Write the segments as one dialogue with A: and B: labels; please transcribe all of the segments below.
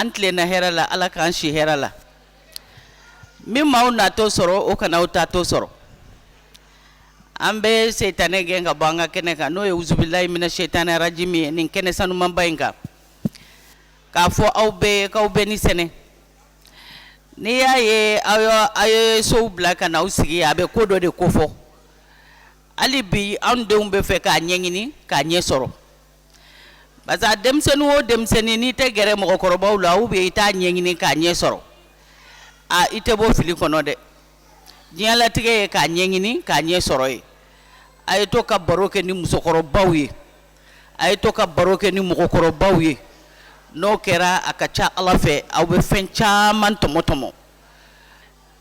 A: an tilenna hɛrɛ la ala k'an si hɛrɛ la min ma aw natɔ sɔrɔ o kana aw taatɔ sɔrɔ an bɛ setani gɛn ka bɔ an ka kɛnɛ kan n'o ye wuzubilahi mina setani rajimi ye nin kɛnɛ sanumanba in kan k'a fɔ aw bɛɛ k'aw bɛɛ ni sɛnɛ N'i y'a ye aw ye sow bila ka na aw sigi a bɛ ko dɔ de kofɔ hali bi anw denw bɛ fɛ k'a ɲɛɲini k'a ɲɛ sɔrɔ parce que denmisɛnnin o denmisɛnnin n'i tɛ gɛrɛ mɔgɔkɔrɔbaw la aw bɛ i t'a ɲɛɲini k'a ɲɛ sɔrɔ a i tɛ bɔ fili kɔnɔ dɛ diɲɛlatigɛ ye k'a ɲɛɲini k'a ɲɛ sɔrɔ ye a ye to ka baro kɛ ni musokɔrɔbaw ye a ye to ka baro kɛ ni mɔgɔkɔrɔbaw ye n'o kɛra a ka ca ala fɛ aw bɛ fɛn caman tɔmɔtɔmɔ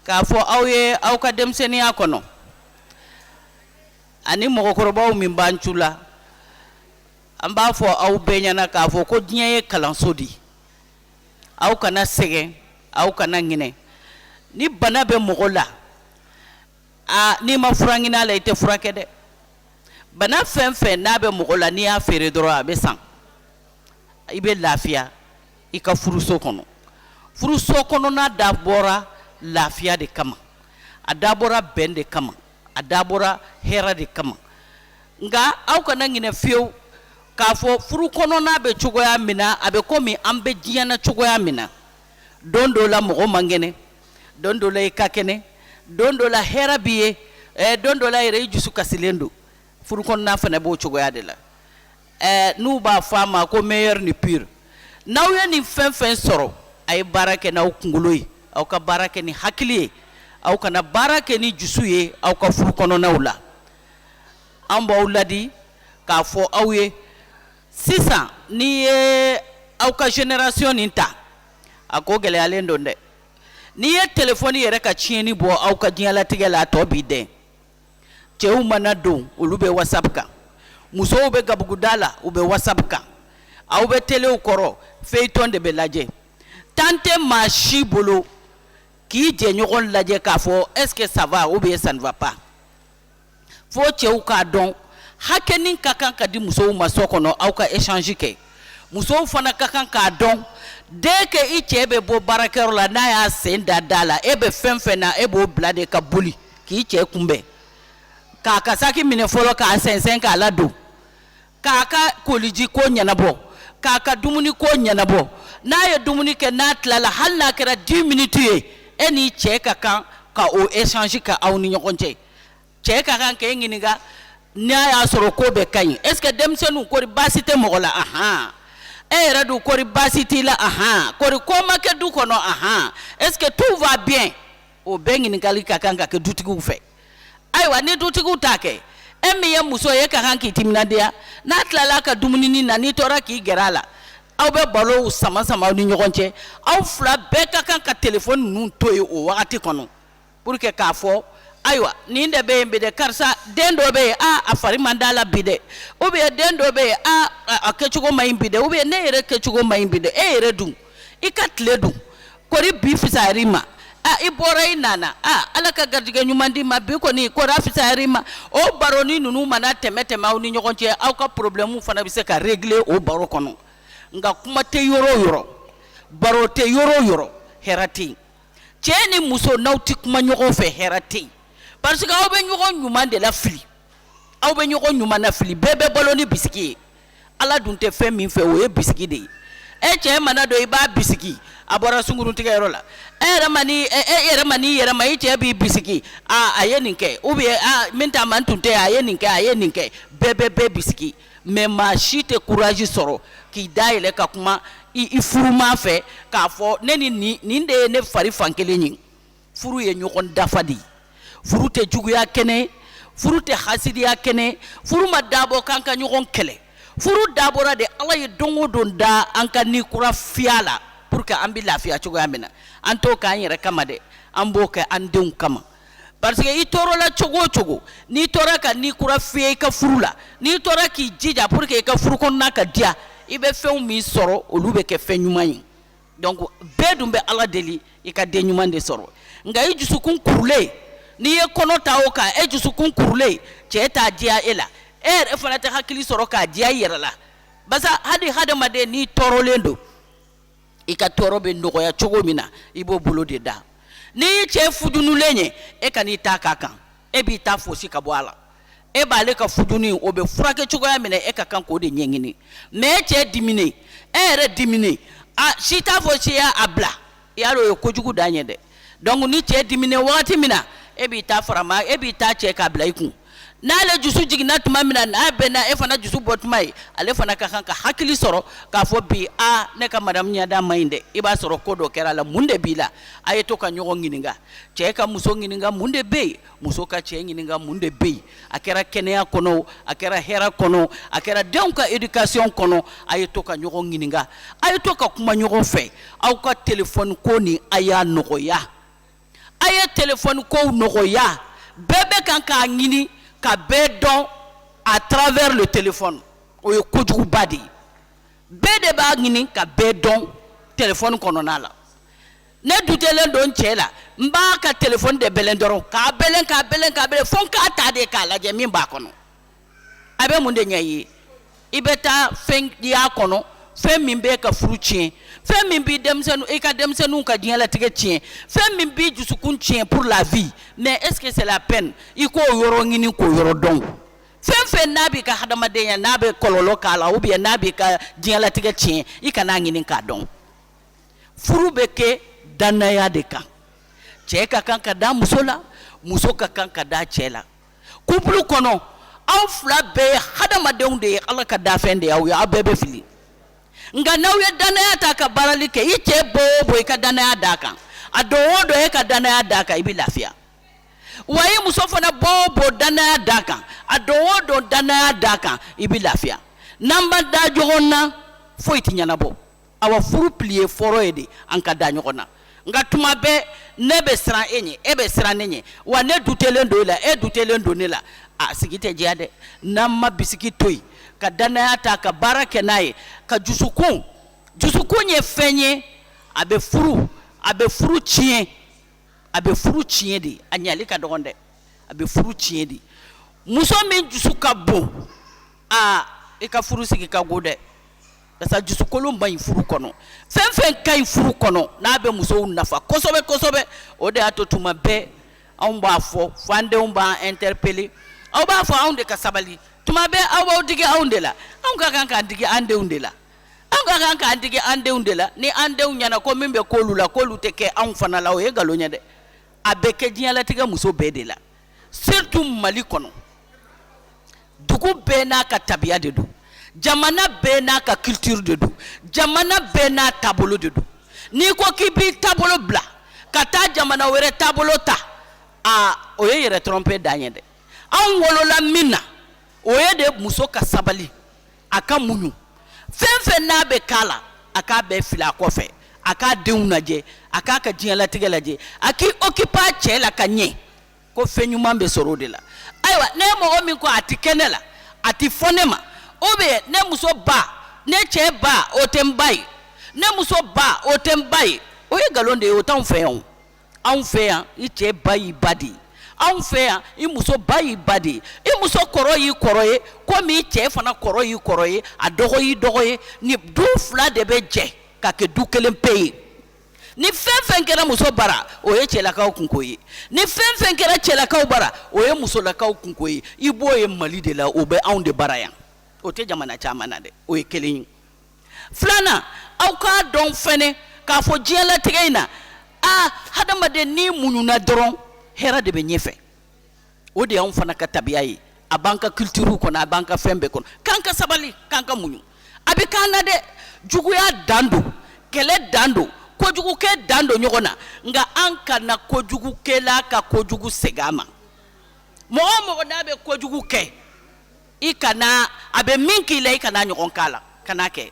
A: k'a fɔ aw ye aw ka denmisɛnninya kɔnɔ ani mɔgɔkɔrɔbaw min b'an cɛla an b'a fɔ aw bɛɛ ɲɛna k'a fɔ ko diɲɛ ye kalanso di aw kana sɛgɛn aw kana ɲinɛ ni bana bɛ mɔgɔ la aa n'i ma fura ɲini a la i tɛ furakɛ dɛ bana fɛn fɛn n'a bɛ mɔgɔ la n'i y'a feere dɔrɔn a bɛ san i bɛ lafiya i ka furuso kɔnɔ furuso kɔnɔna dabɔra lafiya de kama a dabɔra bɛn de kama a dabɔra hɛrɛ de kama nka aw kana ɲinɛ fewu k'a fɔ furu kɔnɔna bɛ cogoya min na a bɛ komi an bɛ diɲɛ na cogoya min na don dɔ la mɔgɔ man kɛnɛ don dɔ la i ka kɛnɛ don dɔ la hɛrɛ b'i ye eh, don dɔ la yɛrɛ i dusu kasilen don furu kɔnɔna fana b'o cogoya de la eh, n'u b'a fɔ a ma ko meilleur ni pire n'aw ye nin fɛn fɛn sɔrɔ a ye baara kɛ n'aw kunkolo ye aw ka baara kɛ ni hakili ye aw kana baara kɛ ni dusu ye aw ka furu kɔnɔnaw la an b'aw ladi k'a fɔ aw ye sisan n'i ye aw ka generation nin ta a ko gɛlɛyalen don dɛ n'i ye telefɔni yɛrɛ ka tiɲɛni bɔ aw ka diɲɛlatigɛ la a tɔ b'i dɛn cɛw mana don olu bɛ whatsapp kan musow bɛ gabuguda la u bɛ whatsapp kan aw bɛ telew kɔrɔ feuilleton de bɛ lajɛ temps tɛ maa si bolo k'i jɛɲɔgɔn lajɛ k'a fɔ est ce que ça va ou bien ça ne va pas fo cɛw k'a dɔn hakɛnin ka kan ka di musow ma so kɔnɔ aw ka échange kɛ musow fana ka kan k'a dɔn dès que i cɛ bɛ bɔ baarakɛyɔrɔ la n'a y'a sen da da la e bɛ fɛn fɛn na e b'o bila de ka boli k'i cɛ kunbɛn k'a ka saki minɛ fɔlɔ k'a sɛnsɛn k'a ladon k'a ka koliji ko ɲɛnabɔ k'a ka dumuni ko ɲɛnabɔ n'a ye dumuni kɛ n'a tilala hali n'a kɛra 10 minutes ye e n'i cɛ ka kan ka o échange kɛ aw ni ɲɔgɔn cɛ cɛ ka kan k'e ɲininka n'a y'a sɔrɔ ko bɛɛ ka ɲi est ce que denmisɛnninw kɔri baasi tɛ mɔgɔ la ahan e yɛrɛ dun kɔri baasi t'i la ahan kɔri ko ma kɛ du kɔnɔ ahan est ce que tout va bien o bɛɛ ɲininkali ka kan ka kɛ dutigiw fɛ ayiwa ni dutigiw t'a kɛ e min ye muso ye e ka kan k'i timinadiya n'a tilala ka dumuninin na n'i tora k'i gɛrɛ a la aw bɛ barow sama sama aw ni ɲɔgɔn cɛ aw fila bɛɛ ka kan ka telefɔni ninnu to yen o wagati kɔnɔ pour que k'a fɔ ayiwa nin de bɛ yen bi dɛ karisa den dɔ bɛ yen a a fari man d'a la bi dɛ ou bien den dɔ bɛ yen a a kɛcogo man ɲi bi dɛ ou bien ne yɛrɛ kɛcogo man ɲi bi dɛ e yɛrɛ dun i ka tile dun kori bi fisayara i ma a i bɔra i nana a ala ka garijɛgɛ ɲuman d'i ma bi kɔni kori a fisayara i ma o baroni ninnu mana tɛmɛ tɛmɛ aw ni ɲɔgɔn cɛ aw ka problème fana bɛ se ka régler o baro kɔnɔ nka kuma tɛ yɔrɔ o yɔrɔ baro tɛ yɔrɔ o yɔrɔ hɛrɛ tɛ yen cɛ ni muso n'aw tɛ kuma ɲɔgɔn fɛ hɛrɛ tɛ yen parce que aw bɛ ɲɔgɔn ɲuman de lafili aw bɛ ɲɔgɔn ɲuman nafili bɛɛ bɛ balo ni bisiki ye ala dun tɛ fɛn min fɛ o ye bisiki de ye e cɛ mana don i b'a bisiki a bɔra sunkuruntigɛyɔrɔ la e yɛrɛ ma ni e yɛrɛ ma n'i yɛrɛ ma i cɛ b'i bisiki a a ye nin kɛ ou bien a min ta man tun tɛ a ye nin kɛ a ye nin kɛ bɛɛ bɛ bɛɛ bisiki mais maa si tɛ courage sɔrɔ k'i da yɛlɛ ka kuma i furuma fɛ k'a fɔ ne ni nin de ye ne fari fan kelen ye furu ye ɲɔgɔn dafa de ye furu tɛ juguya kɛnɛ furu tɛ hasidiya kɛnɛ furu ma dabɔ k'an ka ɲɔgɔn kɛlɛ furu dabɔra de ala ye don o don da an ka ni kura fiyɛ a la pour que an bɛ lafiya cogoya min na an t'o k'an yɛrɛ kama dɛ an b'o kɛ an denw kama parce que i tɔɔrɔla cogo o cogo n'i tora ka ni kura fiyɛ i ka furu la n'i tora k'i jija pour que i ka furu kɔnɔna ka diya i bɛ fɛnw min sɔrɔ olu bɛ kɛ fɛn ɲuman ye donc bɛɛ dun bɛ ala deli i ka den ɲuman de sɔrɔ nka i dusukun kurulen n'i ye kɔnɔ ta o kan e dusukun kurulen cɛ t'a diya e la e yɛrɛ fana tɛ hakili sɔrɔ k'a diya i yɛrɛ la parce que hali hadamaden n'i tɔɔrɔlen don i ka tɔɔrɔ bɛ nɔgɔya cogo min na i b'o bolo de da n'i ye cɛ futunlen ye e kana i ta k'a kan e b'i ta foosi ka bɔ a la e b'ale ka futuni o bɛ furakɛ cogoya min e ka kan k'o de ɲɛɲini mais e cɛ diminen e yɛrɛ diminen si t'a fɔ si ye a bila i y'a dɔn o ye kojugu dan ye dɛ donc ni cɛ dimina wagati min na e b'i ta farama e b'i ta cɛ k'a bila i kun n'ale dusu jiginna tuma min na n'a bɛnna e fana dusu bɔ tuma ye ale fana ka kan ka hakili sɔrɔ k'a fɔ bi a ne ka madamu ɲɛda ma ɲi dɛ i b'a sɔrɔ ko dɔ kɛra a la mun de b'i la a ye to ka ɲɔgɔn ɲininka cɛ ka muso ɲininka mun de bɛ yen muso ka cɛ ɲininka mun de bɛ yen a kɛra kɛnɛya kɔnɔ a kɛra hɛrɛ kɔnɔ a kɛra denw ka éducation kɔnɔ a ye to ka ɲɔgɔn ɲininka a ye to ka kuma ɲɔgɔn fɛ aw ka téléphone ko nin a y'a nɔgɔya a ye téléphone kow nɔgɔya bɛɛ bɛ kan k'a ɲini ka bɛɛ dɔn à travers le téléphone o ye kojuguba de ye bɛɛ de b'a ɲini ka bɛɛ dɔn téléphone kɔnɔna la ne dutelen don n cɛ la n b'a ka téléphone de bɛlɛn dɔrɔn k'a bɛlɛn k'a bɛlɛn k'a bɛlɛn fo n k'a ta de k'a lajɛ min b'a kɔnɔ a bɛ mun de ɲɛ i ye i bɛ taa fɛn y'a kɔnɔ fɛn min b'i ka furu tiɲɛ fɛn min bɛ denmisɛnnin i ka denmisɛnninw ka diɲɛlatigɛ tiɲɛ fɛn min b'i dusukun tiɲɛ pour la vie mais est-ce que c'est la peine i k'o yɔrɔ ɲini k'o yɔrɔ dɔn fɛn fɛn n'a b'i ka hadamadenya n'a bɛ kɔlɔlɔ k'a la ou bien n'a b'i ka diɲɛlatigɛ tiɲɛ i kan'a ɲini k'a dɔn furu bɛ kɛ dannaya de kan cɛ ka kan ka da muso la muso ka kan ka da cɛ la couple kɔnɔ aw fila bɛɛ ye hadamadenw de ye Ala ka dafɛn de y'aw ye aw bɛɛ bɛ fili nka n'aw ye dannaya ta ka baarali kɛ i cɛ bɔ o bɔ i ka dannaya d'a kan a don o don e ka dannaya d'a kan i bɛ lafiya wa i muso fana bɔ o bɔ dannaya d'a kan a don o don dannaya d'a kan i bɛ lafiya n'an ma da ɲɔgɔn na foyi tɛ ɲɛnabɔ awa furu pilier fɔlɔ ye de an ka da ɲɔgɔn na nka tuma bɛɛ ne bɛ siran e ɲɛ e bɛ siran ne ɲɛ wa ne dutelen don e la e dutelen don ne la a sigi tɛ diya dɛ n'an ma bisigi to yen ka dannaya ta ka baara kɛ n'a ye ka dusukun dusukun ye fɛn ye a bɛ furu a bɛ furu tiɲɛ a bɛ furu tiɲɛ de a ɲali ka dɔgɔn dɛ a bɛ furu tiɲɛ de muso min dusu ka bon aa i ka furu sigi ka go dɛ karisa dusukolon man ɲi furu kɔnɔ fɛn fɛn ka ɲi furu kɔnɔ n'a bɛ musow nafa kosɛbɛ kosɛbɛ o de y'a to tuma bɛɛ anw b'a fɔ fo an denw b'an interpeller aw b'a fɔ anw de ka sabali tuma bɛɛ aw b'aw digi anw de la anw ka kan k'an digi an denw de la anw ka kan k'an digi an denw de la ni an denw ɲɛna ko min bɛ k'olu la k'olu tɛ kɛ anw fana la o ye nkalon ye dɛ a bɛ kɛ diɲɛlatigɛ muso bɛɛ de la surtout mali kɔnɔ dugu bɛɛ n'a ka tabiya de don jamana bɛɛ n'a ka culture de don jamana bɛɛ n'a taabolo de don n'i ko k'i b'i taabolo bila ka taa jamana wɛrɛ taabolo ta a o ye yɛrɛ tromper dan ye dɛ anw wolola min na o ye de muso ka sabali a ka muɲu fɛn fɛn n'a bɛ k'a la a k'a bɛɛ fili a kɔfɛ a k'a denw lajɛ a k'a ka diɲɛlatigɛ lajɛ a k'i okipa a cɛ la ka ɲɛ ko fɛn ɲuman bɛ sɔrɔ o de la ayiwa ni mɔgɔ min ko a tɛ kɛ ne la a tɛ fɔ ne ma o bɛ ne muso ba ne cɛ ba o tɛ n ba ye ne muso ba o tɛ n ba ye o ye nkalon de ye o t'anw fɛ yan o anw fɛ yan i cɛ ba y'i ba de ye anw fɛ yan i muso ba y'i ba de ye i muso kɔrɔ y'i kɔrɔ ye komi i cɛ fana kɔrɔ y'i kɔrɔ ye a dɔgɔ y'i dɔgɔ ye ni du fila de bɛ jɛ ka kɛ du kelen pe ye ni fɛn fɛn kɛra muso bara o ye cɛlakaw kunko ye ni fɛn fɛn kɛra cɛlakaw bara o ye musolakaw kunko ye i b'o ye mali de la o bɛ anw de bara yan o tɛ jamana caman na dɛ o ye kelen ye filanan aw k'a dɔn fɛnɛ k'a fɔ diɲɛlatigɛ in na a hadamaden n'i muɲuna dɔrɔn hɛrɛ de bɛ ɲɛfɛ o de y'anw fana ka tabiya ye a b'an ka culture kɔnɔ a b'an ka fɛn bɛɛ kɔnɔ k'an ka sabali k'an ka muɲu a bɛ k'an na dɛ juguya dan don kɛlɛ dan don kojugukɛ dan don ɲɔgɔn na nka an kana kojugukɛla ka kojugu segin a ma mɔgɔ o mɔgɔ n'a bɛ kojugu kɛ i kana a bɛ min k'i la i kan'a ɲɔgɔn k'a la kana kɛ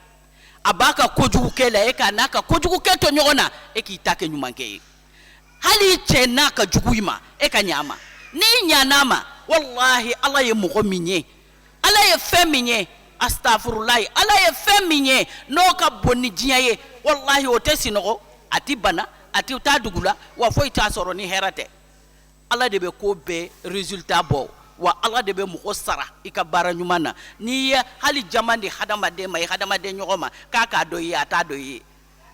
A: a b'a ka kojugu kɛ la e kan'a ka kojugu kɛ tɔɲɔgɔn na e k'i ta kɛ ɲumankɛ ye hali i cɛ n'a ka jugu i ma e ka ɲ'a ma n'i ɲan'a ma walahi ala ye mɔgɔ min ye ala ye fɛn min ye astafurulayi ala ye fɛn min ye n'o ka bon ni diɲɛ ye walahi o tɛ sinɔgɔ a tɛ bana a tɛ taa dugu la wa foyi t'a sɔrɔ ni hɛrɛ tɛ Ala de bɛ ko bɛɛ resultat bɔ wa Ala de bɛ mɔgɔ sara i ka baara ɲuman na n'i ye hali jaman di hadamaden ma i hadamaden ɲɔgɔn ma k'a k'a dɔn i ye a t'a dɔn i ye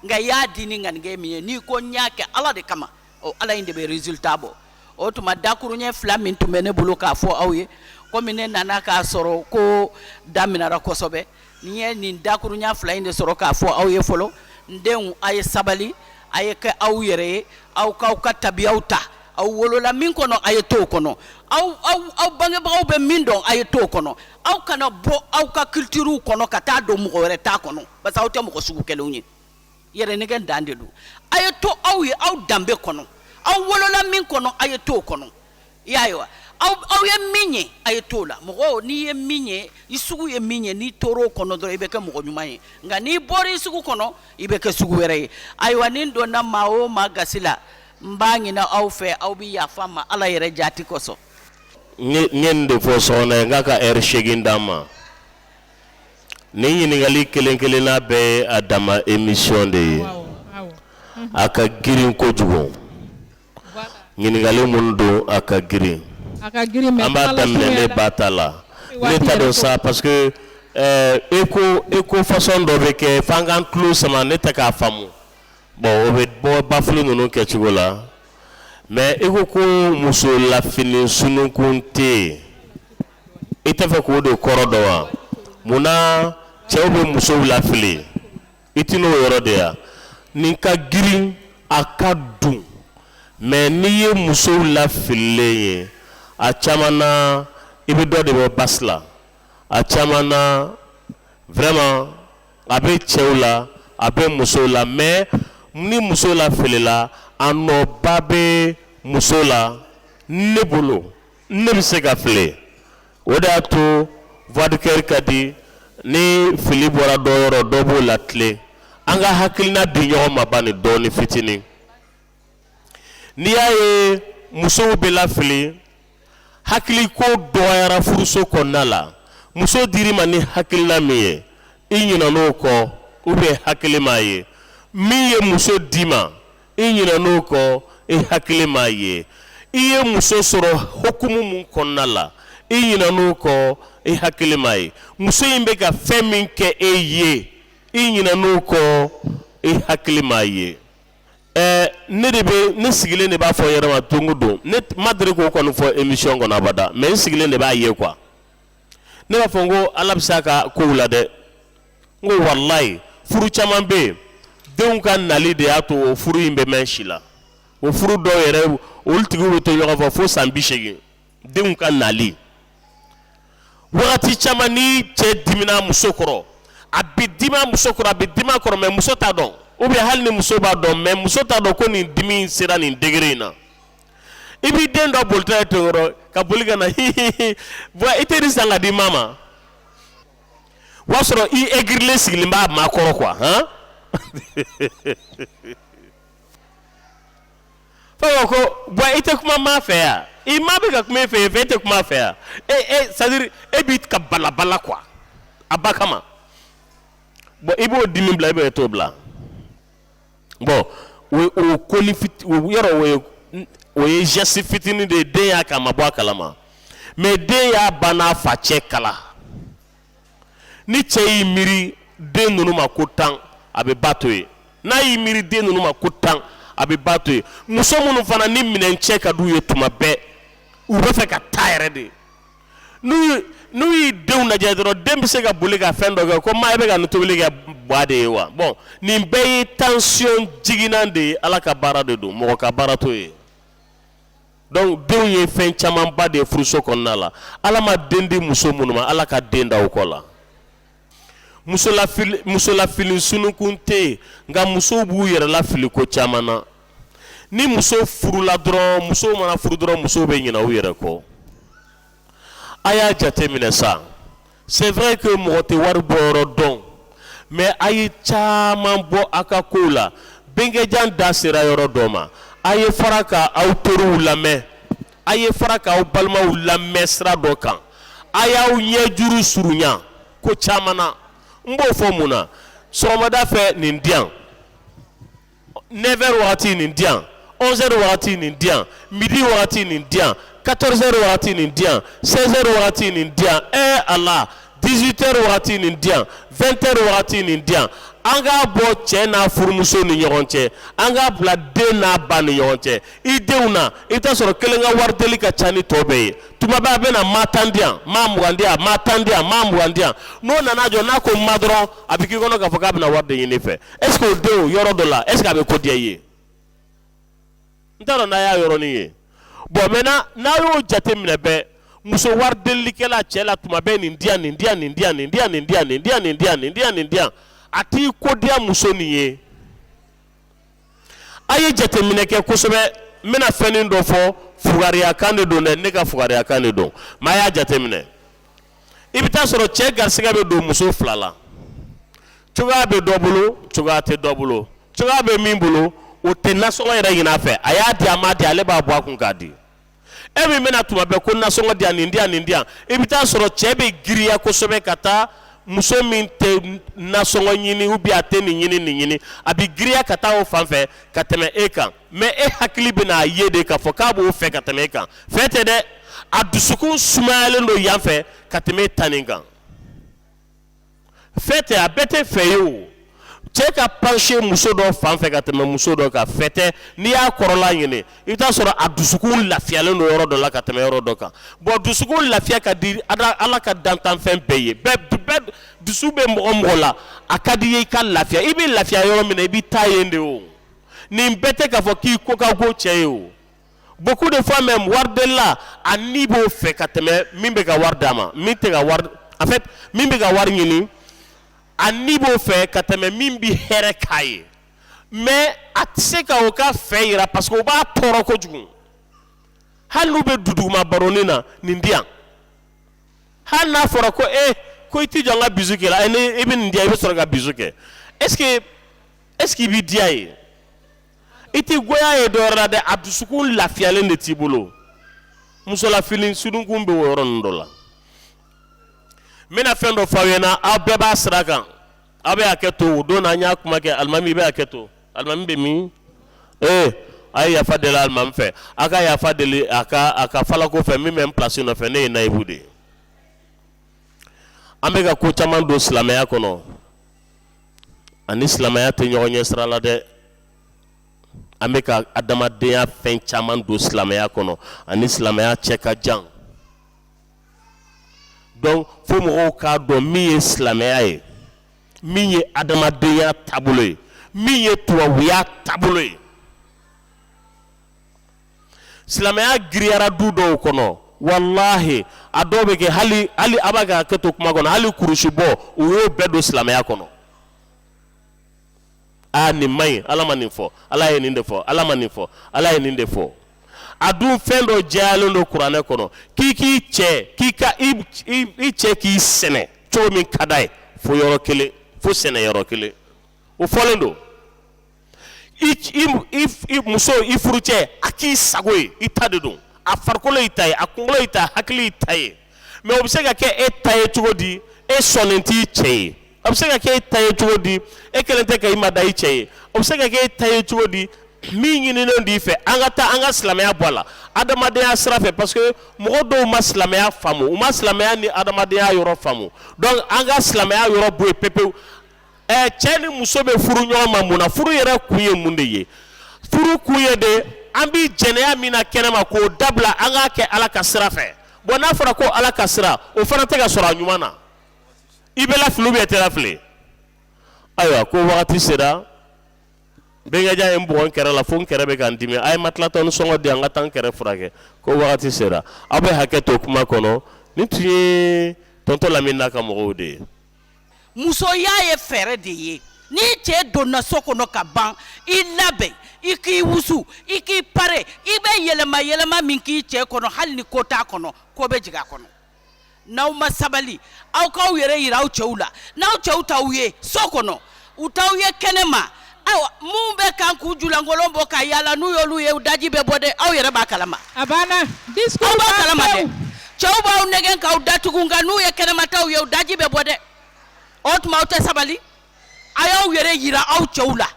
A: nka i y'a di ni ŋaniya min ye n'i ko n y'a kɛ Ala de kama ɔ Ala in de bɛ resultat bɔ o tuma dakuruɲɛ fila min tun bɛ ne bolo k'a fɔ aw ye komi ne nana k'a sɔrɔ ko daminɛna kosɛbɛ Ne ye nin dakurunya fila in de sɔrɔ k'a fɔ aw ye fɔlɔ n denw aw ye sabali a ye kɛ aw yɛrɛ ye aw k'aw ka tabiya ta aw wolola min kɔnɔ a ye t'o kɔnɔ aw aw bangebagaw bɛ min dɔn a ye t'o kɔnɔ aw kana bɔ aw ka culture kɔnɔ ka taa don mɔgɔ wɛrɛ ta kɔnɔ parce que aw tɛ mɔgɔ sugu kelen ye yɛrɛnɛgɛn dan de don a ye to aw ye aw danbe kɔnɔ aw wolola min kɔnɔ a ye t'o kɔnɔ i y'a ye wa aw aw ye min ye a ye t'o la mɔgɔ n'i ye min ye i sugu ye min ye n'i tor'o kɔnɔ dɔrɔn i bɛ kɛ mɔgɔ ɲuman ye nka n'i bɔra i sugu kɔnɔ i bɛ kɛ sugu wɛrɛ ye ayiwa ni n donna maa o maa gasi la n b'a ɲini aw fɛ aw bɛ yafa n ma ala yɛrɛ jaati kosɔn n ye nin de fɔ sokona ye n k'a ka hɛrɛ segin d'a ma Nin ɲininkali kelen kelenna bɛɛ ye a danma émission de ye a ka girin kojugu ɲininkali minnu don a ka girin an b'a daminɛ ba ta la don sa parce que e ko e ko fasɔn dɔ bɛ kɛ f'an k'an tulo sama ne ta k'a faamu bon o bɛ bɔ lafili ninnu kɛcogo la mɛ e ko ko muso lafili sunkun tɛ yen I t'a fɛ k'o de kɔrɔ dɔn wa munna cɛw bɛ musow lafili i t n'o yɔrɔ de yan nin ka girin a ka dun mɛ n'i ye musow lafililen ye a caman na i bɛ dɔ de bɔ basi la a caman na vraiment a bɛ cɛw la a bɛ musow la mɛ ni muso lafilila a nɔba bɛ muso la ne bolo ne bɛ se ka fili o de y'a to vidéo kɛli ka di ni fili bɔra dɔ yɔrɔ dɔ b'o latilen an ka hakilina di ɲɔgɔn ma bani dɔɔni fitinin n'i y'a ye musow bɛ lafili hakili ko dɔgɔyara furuso kɔnɔna la muso dir'i ma ni hakilina min ye i ɲinɛn'o kɔ u bɛ hakili m'a ye min ye muso d'i ma i ɲinɛn'o kɔ i hakili m'a ye i ye muso sɔrɔ hukumu mun kɔnɔna la i ɲinɛn'o kɔ i hakili m'a ye muso in bɛ ka fɛn min kɛ e ye i ɲinɛn'o kɔ i hakili m'a ye ɛɛ ne de bɛ ne sigilen de b'a fɔ yɛrɛ ma don o don ne ma deli k'o kɔni fɔ émission kɔnɔ abada mais n sigilen de b'a ye quoi ne b'a fɔ n ko Ala bɛ se a ka kow la dɛ n ko walayi furu caman bɛ yen denw ka nali de y'a to o furu in bɛ mɛn si la o furu dɔw yɛrɛ olu tigiw bɛ to ɲɔgɔn fɛ fo san bi seegin denw ka nali wagati caman ni cɛ dimina muso kɔrɔ a bɛ dimi muso kɔrɔ a bɛ dimi a kɔrɔ mɛ muso t'a dɔn u bɛ hali ni muso b'a dɔn mɛ muso t'a dɔn ko nin dimi in sera nin degere in na i b'i den dɔ bolitɔ ye to yɔrɔ ka boli ka na hihihi bɔn i tɛ nin san ka di maa ma o y'a sɔrɔ i egirilen sigilen b'a maa kɔrɔ quoi ko bɔn i tɛ kuma maa fɛ wa i maa bɛ ka kuma e fɛ yen fɛ e tɛ kum'a fɛ wa c'est-à-dire e b'i ka balabala quoi a ba kama bɔn i b'o dimi bila i bɛ e t'o bila bɔn o ko yɔrɔ o ye jɛsi fitinin de ye den y'a k'a ma bɔ a kalama mɛ den y'a ba n'a fa cɛ kala ni cɛ y'i miiri den ninnu ma ko tan a bɛ ba to yen n'a y'i miiri den ninnu ma ko tan a bɛ ba to yen muso minnu fana ni minɛn cɛ ka du ye tuma bɛɛ u bɛ fɛ ka taa yɛrɛ de ye n'u y'i denw lajɛ dɔrɔn den bɛ se ka boli ka fɛn dɔ kɛ ko maa bɛ ka tobili kɛ ba de ye wa bɔn nin bɛɛ ye tansiyɔn jiginnan de ye ala ka baara de don mɔgɔ ka baara t'o ye dɔnku denw ye fɛn camanba de ye furuso kɔnɔna la ala ma den di muso minnu ma ala ka den da aw kɔ la musolafili sununkun tɛ yen nka musow b'u yɛrɛ lafili ko caman na ni muso furula dɔrɔn musow mana furu dɔrɔn musow bɛ ɲina u yɛrɛ kɔ a y'a jate minɛ ça c'est vrai que mɔgɔ tɛ wari bɔ yɔrɔ dɔn mɛ a ye caman bɔ a ka ko la bɛnkɛjan da sera yɔrɔ dɔ ma a ye fara ka aw teriw lamɛn a ye fara k'aw balimaw lamɛn sira dɔ kan a y'aw ɲɛ juru surunya ko caman na n b'o fɔ mun na sɔgɔmada fɛ nin di yan nɛfɛri wagati nin di yan ɔnzɛri wagati nin di yan midi wagati nin di yan katɔrizɛri wagati nin di yan sɛzɛri wagati nin di yan ɛɛ ala 18 heures wagati nin di yan 20 heures wagati nin di yan an k'a bɔ cɛ n'a furumuso ni ɲɔgɔn cɛ an k'a bila den n'a ba ni ɲɔgɔn cɛ i denw na i bɛ t'a sɔrɔ kelen ka wari deli ka ca ni tɔ bɛɛ ye tuma bɛɛ a bɛ na maa tan di yan maa mugan di yan maa tan di yan maa mugan di yan n'o nana jɔ n'a ko maa dɔrɔn a bɛ k'i kɔnɔ k'a fɔ k'a bɛna wari de ɲini i fɛ est ce que o denw yɔrɔ dɔ la est ce que a bɛ ko diya i ye. n taara n'a y'a yɔrɔnin ye bɔn mɛ n'a y'o jate minɛ bɛɛ muso waridelikɛla cɛ la tuma bɛɛ nin di yan nin di yan nin di yan nin di yan nin di yan nin di yan nin di yan nin di yan nin di yan a t'i ko diya muso nin ye a ye jateminɛ kɛ kosɛbɛ n bɛna fɛn dɔ fɔ fugariya kan de don dɛ ne ka fugariya kan de don mɛ a y'a jateminɛ i bɛ taa sɔrɔ cɛ garisɛgɛ bɛ don muso fila la cogoya bɛ dɔ bolo cogoya tɛ dɔ bolo cogoya bɛ min bolo o tɛ nasɔngɔ yɛrɛ ɲini a fɛ a y'a di a m'a di ale b'a bɔ a kun k'a di e min bɛ na tuma bɛɛ ko nasɔngɔ di yan nin di yan nin di yan i bɛ taa sɔrɔ cɛ bɛ giriya kosɛbɛ ka taa muso min tɛ nasɔngɔ ɲini ou bien a tɛ nin ɲini nin ɲini a bɛ giriya ka taa o fan fɛ ka tɛmɛ e kan mɛ e hakili bɛna a ye de k'a fɔ k'a b'o fɛ ka tɛmɛ e kan fɛ tɛ dɛ a dusukun sumayalen don yan fɛ ka tɛmɛ e ta nin kan fɛ tɛ a bɛɛ tɛ fɛ ye o cɛ ka panse muso dɔ fan fɛ ka tɛmɛ muso dɔ kan fɛ tɛ n'i y'a kɔrɔla ɲini i bɛ t'a sɔrɔ a dusukun lafiyalen don yɔrɔ dɔ la ka tɛmɛ yɔrɔ dɔ kan bɔn dusukun lafiya ka di ada- ala ka dantanfɛn bɛɛ ye bɛɛ bɛɛ dusu bɛ mɔgɔ mɔgɔ la a ka di i ye i ka lafiya i bɛ lafiya yɔrɔ min na i bɛ taa yen de o nin bɛɛ tɛ k'a fɔ k'i ko ka go cɛ ye o beaucoup de fois même waridela a ni b'o fɛ ka tɛmɛ min bɛ ka wari d'a ma min tɛ ka wari en fait min bɛ ka wari ɲini a ni b'o fɛ ka tɛmɛ min bɛ hɛrɛ k'a ye mais a tɛ se ka o ka fɛ yira parce que o b'a tɔɔrɔ kojugu hali n'u bɛ duduguma baronin na nin di yan hali n'a fɔra ko e ko i t'i jɔ n ka bisou kɛ la e ni i bɛ nin di yan i bɛ sɔrɔ ka bisou kɛ est ce que est-ce que i b'i diya ye i t'i goya ye dɔwɛrɛ la dɛ a dusukun lafiyalen de t'i bolo muso lafili sununkun bɛ o yɔrɔ ninnu dɔ la n bɛna fɛn dɔ f'aw ɲɛna aw bɛɛ b'a sira kan aw bɛ hakɛ to o don na an y'a kuma kɛ alimami i bɛ hakɛ to alimami bɛ min ee a ye yafa deli alimami fɛ a ka yafa deli a ka a ka falako fɛ min bɛ n pilasi nɔfɛ ne ye nayibu de ye an bɛ ka ko caman don silamɛya kɔnɔ a ni silamɛya tɛ ɲɔgɔn ɲɛ sira la dɛ an bɛ ka adamadenya fɛn caman don silamɛya kɔnɔ a ni silamɛya cɛ ka jan donc fo mɔgɔw k'a dɔn min ye silamɛya ye min ye adamadenya taabolo ye min ye tubabuya taabolo ye silamɛya giriyara du dɔw kɔnɔ walahi a dɔw bɛ kɛ hali hali aw bɛ hakɛ to kuma kɔnɔ hali kurusi bɔ u y'o bɛɛ don silamɛya kɔnɔ aa nin man ɲi ala ma nin fɔ ala ye nin de fɔ ala ma nin fɔ ala ye nin de fɔ a dun fɛn dɔ jɛyalen don kuranɛ kɔnɔ k'i k'i cɛ k'i ka i i cɛ k'i sɛnɛ cogo min ka d'a ye fo yɔrɔ kelen fo sɛnɛ yɔrɔ kelen o fɔlen don muso i furucɛ a k'i sago ye i ta de don a farikolo i ta ye a kunkolo i ta hakili i ta ye mais o bɛ se ka kɛ e ta ye cogo di e sɔnnen t'i cɛ ye a bɛ se ka kɛ e ta ye cogo di e kɛlen tɛ ka i mada i cɛ ye o bɛ se ka kɛ e ta ye cogo di min ɲininen d'i fɛ an ka taa an ka silamɛya bɔ a la adamadenya sira fɛ parce que mɔgɔ dɔw ma silamɛya faamu u ma silamɛya ni adamadenya yɔrɔ faamu donc an ka silamɛya yɔrɔ bɔ yen pepewu ɛ cɛ ni muso bɛ furu ɲɔgɔn ma mun na furu yɛrɛ kun ye mun de ye furu kun ye de an bɛ jɛnɛya min na kɛnɛma k'o dabila an k'a kɛ ala ka sira fɛ bon n'a fɔra ko ala ka sira o fana tɛ ka sɔrɔ a ɲuman na i bɛ lafili bɛɛ tɛ lafili ayiwa ko wagati sera bɛnkɛ ja ye n bugɔ n kɛrɛ la fo n kɛrɛ bɛ ka n dimi a ye matilatɔni sɔngɔ di an ka taa n kɛrɛ furakɛ ko wagati sera aw bɛ hakɛ to kuma kɔnɔ nin tun ye tonton lamini n'a ka mɔgɔw de ye musoya ye fɛɛrɛ de ye n'i cɛ donna so kɔnɔ ka ban i labɛn i k'i wusu i k'i pare i bɛ yɛlɛma yɛlɛma min k'i cɛ kɔnɔ hali ni ko t'a kɔnɔ ko bɛ jigin a kɔnɔ n'aw ma sabali aw k'aw yɛrɛ yira aw cɛw la n'aw cɛw t'aw ye so kɔnɔ u t'aw ye kɛnɛ ma aw minnu bɛ kan k'u ju lankolon bɔ ka yala n'u y'olu ye u daji bɛ bɔ dɛ aw yɛrɛ b'a kalama a banna discours aw b'a kalama dɛ pewu. cɛw b'aw nɛgɛn k'aw datugu nka n'u ye kɛnɛmataw ye u daji bɛ bɔ dɛ o tuma aw tɛ sabali a y'aw yɛrɛ yira aw cɛw la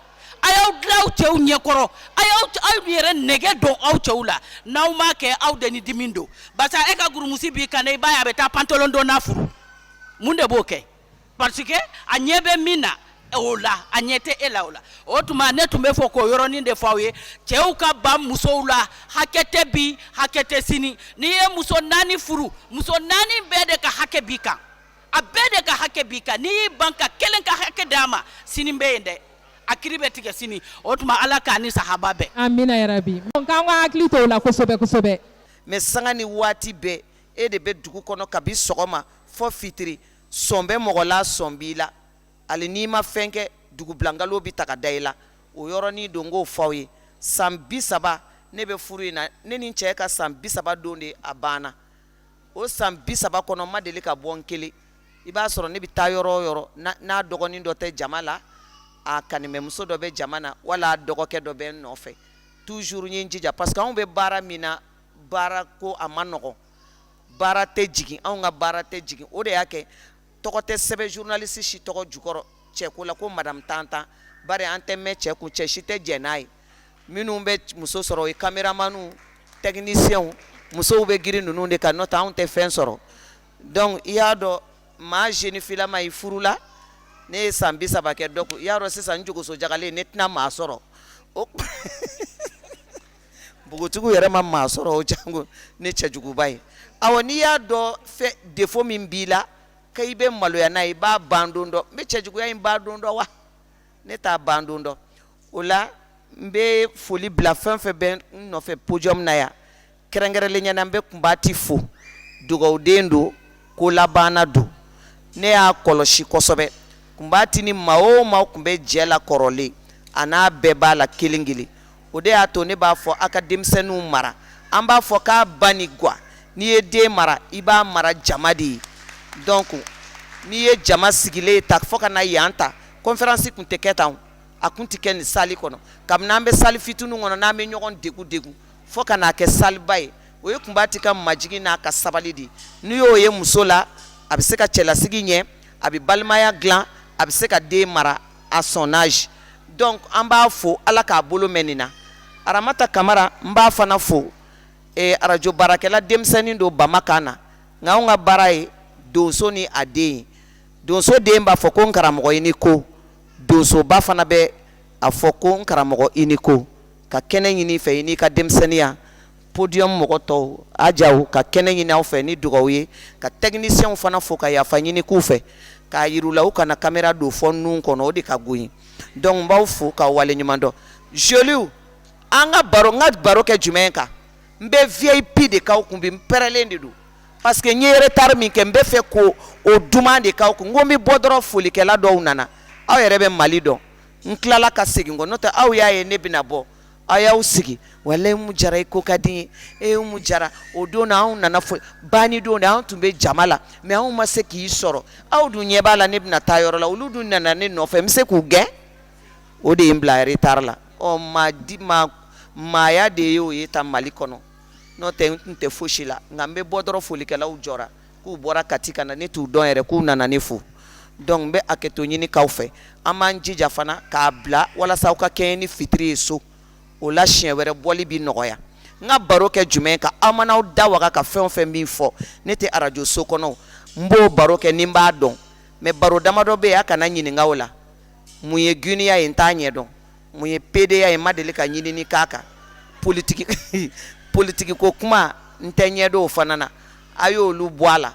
A: a y'aw dilan aw cɛw ɲɛkɔrɔ a y'aw aw yɛrɛ nɛgɛ don aw cɛw la n'aw m'a kɛ aw de ni dimi don barisa e ka gurumusi b'i kan dɛ i b'a ye a bɛ taa pantalon donna furu mun de b'o kɛ Parce que a ɲɛ bɛ min na o la a ɲɛ tɛ e la o la o tuma ne tun b'a fɛ k'o yɔrɔnin de fɔ aw ye cɛw ka ban musow la hakɛ tɛ bi hakɛ tɛ sini n'i ye muso naani furu muso naani bɛɛ de ka hakɛ b'i kan a bɛɛ de ka hakɛ b'i kan n'i y'i ban ka kelen ka hakɛ d'a ma sini bɛ yen dɛ a kiri bɛ tigɛ sini o tuma ala k'an ni sahaba bɛn amina yarabi donc an k'an hakili to o la kosɛbɛ kosɛbɛ mais sanga ni waati bɛɛ e de bɛ dugu kɔnɔ kabi sɔgɔma fɔ fitiri sɔn bɛ mɔgɔ la sɔn b'i la ali n'i ma fɛn kɛ dugubila nkalon bɛ taga da i la o yɔrɔnin don k'o f'aw ye san bi saba ne bɛ furu in na ne ni cɛ ka san bi saba don de a banna o san bi saba kɔnɔ n ma deli ka bɔ n kelen i b'a sɔrɔ ne bɛ taa yɔrɔ yɔrɔ n'a dɔgɔnin dɔ tɛ jama la a kanimɛmuso dɔ bɛ jama na wala dɔgɔkɛ dɔ bɛ n nɔfɛ toujours i jija parce que anw bɛ baara min na baara ko a man nɔgɔn baara tɛ jigin anw ka baara tɛ jigin o de y'a kɛ tɔgɔ tɛ sɛbɛn journaliste si tɔgɔ jukɔrɔ cɛko la ko madamu tan tan bari an tɛ mɛn cɛ kun cɛ si tɛ jɛn n'a ye minnu bɛ muso sɔrɔ o ye caméramanw technicienw musow bɛ girin ninnu de kan n'o tɛ anw tɛ fɛn sɔrɔ donc i y'a dɔn maa jeune fille lama i furula ne ye san bi saba kɛ donc i y'a dɔn sisan n jogosojalen ne tɛna maa sɔrɔ o npogotigiw yɛrɛ ma maa sɔrɔ o janko ne cɛjuguba ye awa n'i y'a dɔn fɛ défaut min b'i la ka i bɛ maloya n'a ye i b'a ban don dɔn n bɛ cɛjuguya in ban don dɔn wa ne t'a ban don dɔn o la n bɛ foli bila fɛn fɛn bɛ n nɔfɛ podium in na yan kɛrɛnkɛrɛnlenya na n bɛ kunbati fo dugawuden don ko labanna don ne y'a kɔlɔsi kosɛbɛ kunbati ni maa o maa tun bɛ jɛ la kɔrɔlen a n'a bɛɛ b'a la kelen kelen o de y'a to ne b'a fɔ aw ka denmisɛnninw mara an b'a fɔ k'a ba ni ga n'i ye den mara i b'a mara jama de ye donc n'i ye jama sigilen ye ta fo ka na yan ta conférence tun tɛ kɛ tan a tun tɛ kɛ nin salle kɔnɔ kabini an bɛ salle fitinin kɔnɔ n'an bɛ ɲɔgɔn degun degun fo ka n'a kɛ salleba ye o ye kunba tɛ ka majigin n'a ka sabali de n'i y'o ye muso la a bɛ se ka cɛlasigi ɲɛ a bɛ balimaya dilan a bɛ se ka den mara a sɔnnaz donc an b'a fo ala k'a bolo mɛn nin na aramata kamara n b'a fana fo arajo baarakɛla denmisɛnnin don bamanankan na nka anw ka baara ye donso ni a den donso den b'a fɔ ko n karamɔgɔ i ni ko donsoba fana bɛ a fɔ ko n karamɔgɔ i ni ko ka kɛnɛ ɲini i fɛ i n'i ka denmisɛnninya podium mɔgɔ tɔw a jaw ka kɛnɛ ɲini aw fɛ ni dugawu ye ka techniciens fana fo ka yafa ɲini k'u fɛ k'a yir'u la u kana caméra don fo nun kɔnɔ o de ka go n ye donc n b'aw fo k'aw waleɲuman dɔn joli an ka baro n ka baro kɛ jumɛn kan n bɛ vip de k'aw kun bi n pɛrɛlen de don parce que n ye retard min kɛ n b'a fɛ k'o o duman de k'aw kun komi n bɛ bɔ dɔrɔn folikɛla dɔw nana aw yɛrɛ bɛ mali dɔn n tilala ka segin kɔ n'o tɛ aw y'a ye ne bɛna bɔ aw y'aw sigi walayi umu jara i ko ka di n ye umu jara o don na anw nana fo ban ni don de anw tun bɛ jama la mɛ anw ma se k'i sɔrɔ aw dun ɲɛ b'a la ne bɛna taa yɔrɔ la olu dun nana ne nɔfɛ bɛ se k'u gɛn o de ye n bila retard la ɔ ma di ma maaya de ye oo ye ta mali kɔnɔ n'o tɛ n tun tɛ foyisi la nka n bɛ bɔ dɔrɔn folikɛlaw jɔ k'u bɔra kati ka na ne t'u dɔn yɛrɛ k'u nana ne fo donc n bɛ hakɛto ɲini k'aw fɛ an b'an jija fana k'a bila walasa ka kɛɲɛ ni fitiri ye so o la siɲɛ wɛrɛ bɔli bɛ nɔgɔya n ka baro kɛ jumɛn kan aw mana aw da waga ka fɛn fɛn min fɔ ne tɛ arajoso kɔnɔ n b'o baro kɛ ni n b'a dɔn mɛ baro damadɔ bɛ yen a kana n ɲininka o la mun ye giniya ye n t'a ɲɛ dɔn mun ye pedeya ye n ma deli ka ɲinini k'a kan politigi politigi ko kuma n t'a ɲɛ dɔn o fana na a y'olu bɔ a la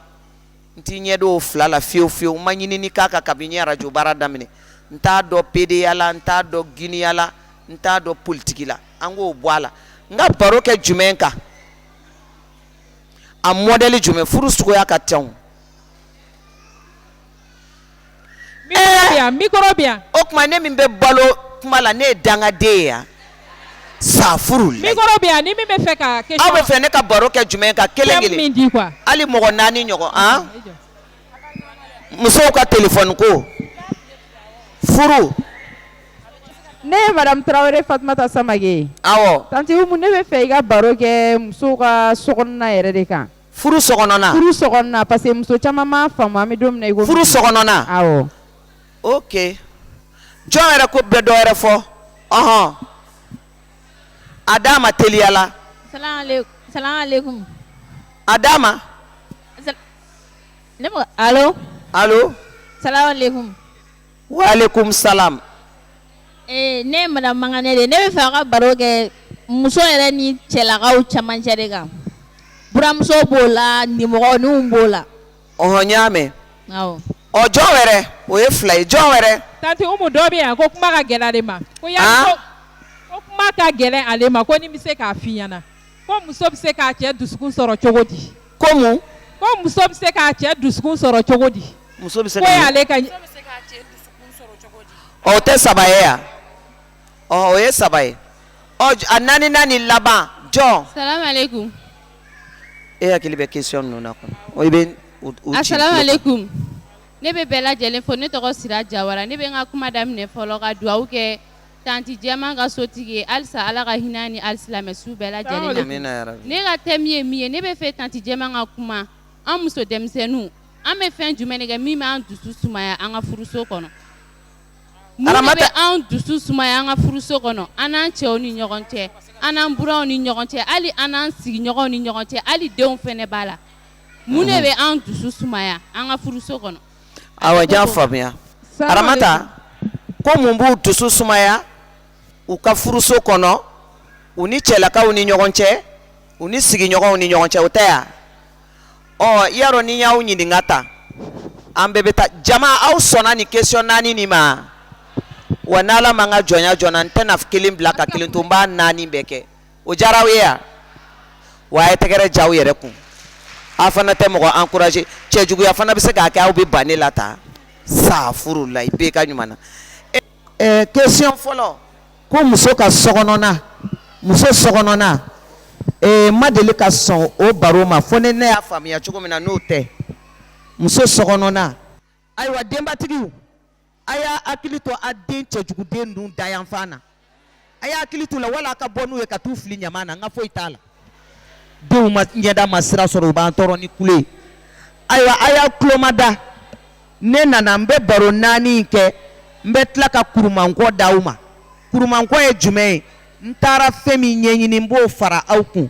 A: n t'a ɲɛ dɔn o fila la fiyewu fiyewu n ma ɲinini k'a kan kabini n ye arajo baara daminɛ n t'a dɔn pedeya la n t'a dɔn giniya la n t'a dɔn politiki la an k'o bɔ a la n ka baro kɛ jumɛn kan a mɔdɛli jumɛn furu suguya ka ca O tuma ne min bɛ balo kuma la ne ye dangaden yan sa furu b'a fɛ ne ka baro kɛ jumɛn kan kelen hali mɔgɔ naani ɲɔgɔn musow ka telefɔni ko furu ne ye madamu tarawele fanta sama awɔ ne b'a fɛ i ka baro kɛ musow ka so yɛrɛ de kan furuso kɔnɔna furuso kɔnɔna parce que muso caman m'a faamu min don i ko furuso kɔnɔna oke jɔn yɛrɛ ko bɛɛ dɔw yɛrɛ fɔ ɔɔn a d'a ma teliya la a d'a ma alo Walikum salam ee ne ye madame Mankane de ye ne b'a fɛ aw ka baro kɛ muso yɛrɛ ni cɛlakaw cɛmancɛ de kan buranmuso b'o la nimɔgɔninw b'o la ɔhɔ n y'a mɛn awɔ ɔ jɔn wɛrɛ o ye fila ye jɔn wɛrɛ Tanti Umu dɔ bɛ yan ko kuma ka gɛlɛn ale ma ko ya An? ko ko kuma ka gɛlɛn ale ma ko ni n bɛ se k'a f'i ɲɛna ko muso bɛ se k'a cɛ dusukun sɔrɔ cogo di ko mun ko muso bɛ se k'a cɛ dusukun sɔrɔ cogo di muso bɛ se ko ka y'ale ka o tɛ saba ye yan ɔ o ye saba ye ɔ j- a naani naani laban jɔn Assalamualaikum. e hakili bɛ question ninnu na kɔni o i bɛ u u ci tulo kan. Assalamualaikum. Ne bɛ bɛɛ lajɛlen fo ne tɔgɔ Sira Jawara ne bɛ n ka kuma daminɛ fɔlɔ ka dugawu kɛ Tante jɛma ka sotigi halisa ala ka hinɛ ni alisilamɛ su bɛɛ lajɛlen ne ka thème ye min ye ne b'a fɛ tante jɛma ka kuma an muso denmisɛnninw an bɛ fɛn jumɛn kɛ min bɛ an dusu sumaya an ka furuso kɔnɔ mun bɛ an dusu sumaya an ka furuso kɔnɔ an n'an cɛw ni ɲɔgɔn cɛ an n'an buranw ni ɲɔgɔn cɛ hali an n'an sigiɲɔgɔn ni ɲɔgɔn cɛ hali denw fana b'a la mun de bɛ an dusu sumaya an ka furuso kɔnɔ faamuya Aramata ko mun b'u dusu sumaya u ka furuso kɔnɔ u ni cɛlakaw ni ɲɔgɔn cɛ u ni sigiɲɔgɔnw ni ɲɔgɔn cɛ o tɛ yan ɔ yarɔ ni n y'aw ɲininka ta an bɛɛ bɛ taa jama aw sɔnna nin kesiyɔn naani nin ma wa n'ala ma n ka jɔnya jɔ n na n tɛna kelen bila ka kelen to n b'a naani bɛɛ kɛ o jara aw ye yan wa a ye tɛgɛrɛ c'aw yɛrɛ kun aw fana tɛ mɔgɔ ankuraje cɛjuguya fana bɛ se k'a kɛ aw bɛ ban ne la astafurulayi bɛɛ ka ɲuman na kesiyɔn fɔlɔ ko muso ka sokɔnɔna muso sokɔnɔna n ma deli ka sɔn o baro ma fo ne ne y'a faamuya cogo min na n'o tɛ muso sokɔnɔna ayiwa denbatigiw a y'a hakili to a den cɛjuguden ninnu dayanfan na a y'a hakili t'u la wala a ka bɔ n'u ye ka t'u fili ɲaman na n ka foyi t'a la denw ma ɲɛda ma sira sɔrɔ u b'an tɔɔrɔ ni kule ye ayiwa a y'a tulo mada ne nana n bɛ baro naani in kɛ n bɛ tila ka kurumankɔ d'aw ma kurumankɔ ye jumɛn ye n taara fɛn min ɲɛɲini n b'o fara aw kun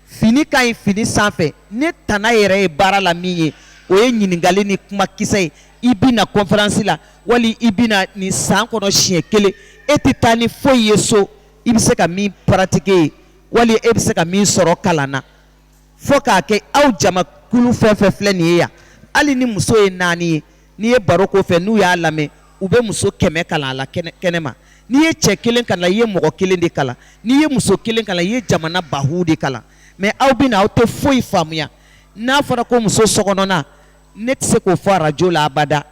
A: Fini ka ɲi fini sanfɛ ni tana yɛrɛ ye baara la min ye o ye ɲininkali ni kumakisɛ ye i bɛ na kɔnferansi la wali i bɛ na nin san kɔnɔ siɲɛ kelen e tɛ taa ni foyi ye so i bɛ se ka min paratike wali e bɛ se ka min sɔrɔ kalan na fo k'a kɛ aw jamakulu fɛn fɛn filɛ nin ye yan hali ni muso ye naani ye n'i ye baro ko fɛ n'u y'a lamɛn u bɛ muso kɛmɛ kalan a la kɛnɛ ma n'i ye cɛ kelen kalan i ye mɔgɔ kelen de kalan n'i ye muso kelen kalan i ye jamana bakuru de kalan mais aw bɛ aw tɛ foyi faamuya n'a fɔra ko muso sokɔnɔna ne tɛ se k'o fɔ arajo la abada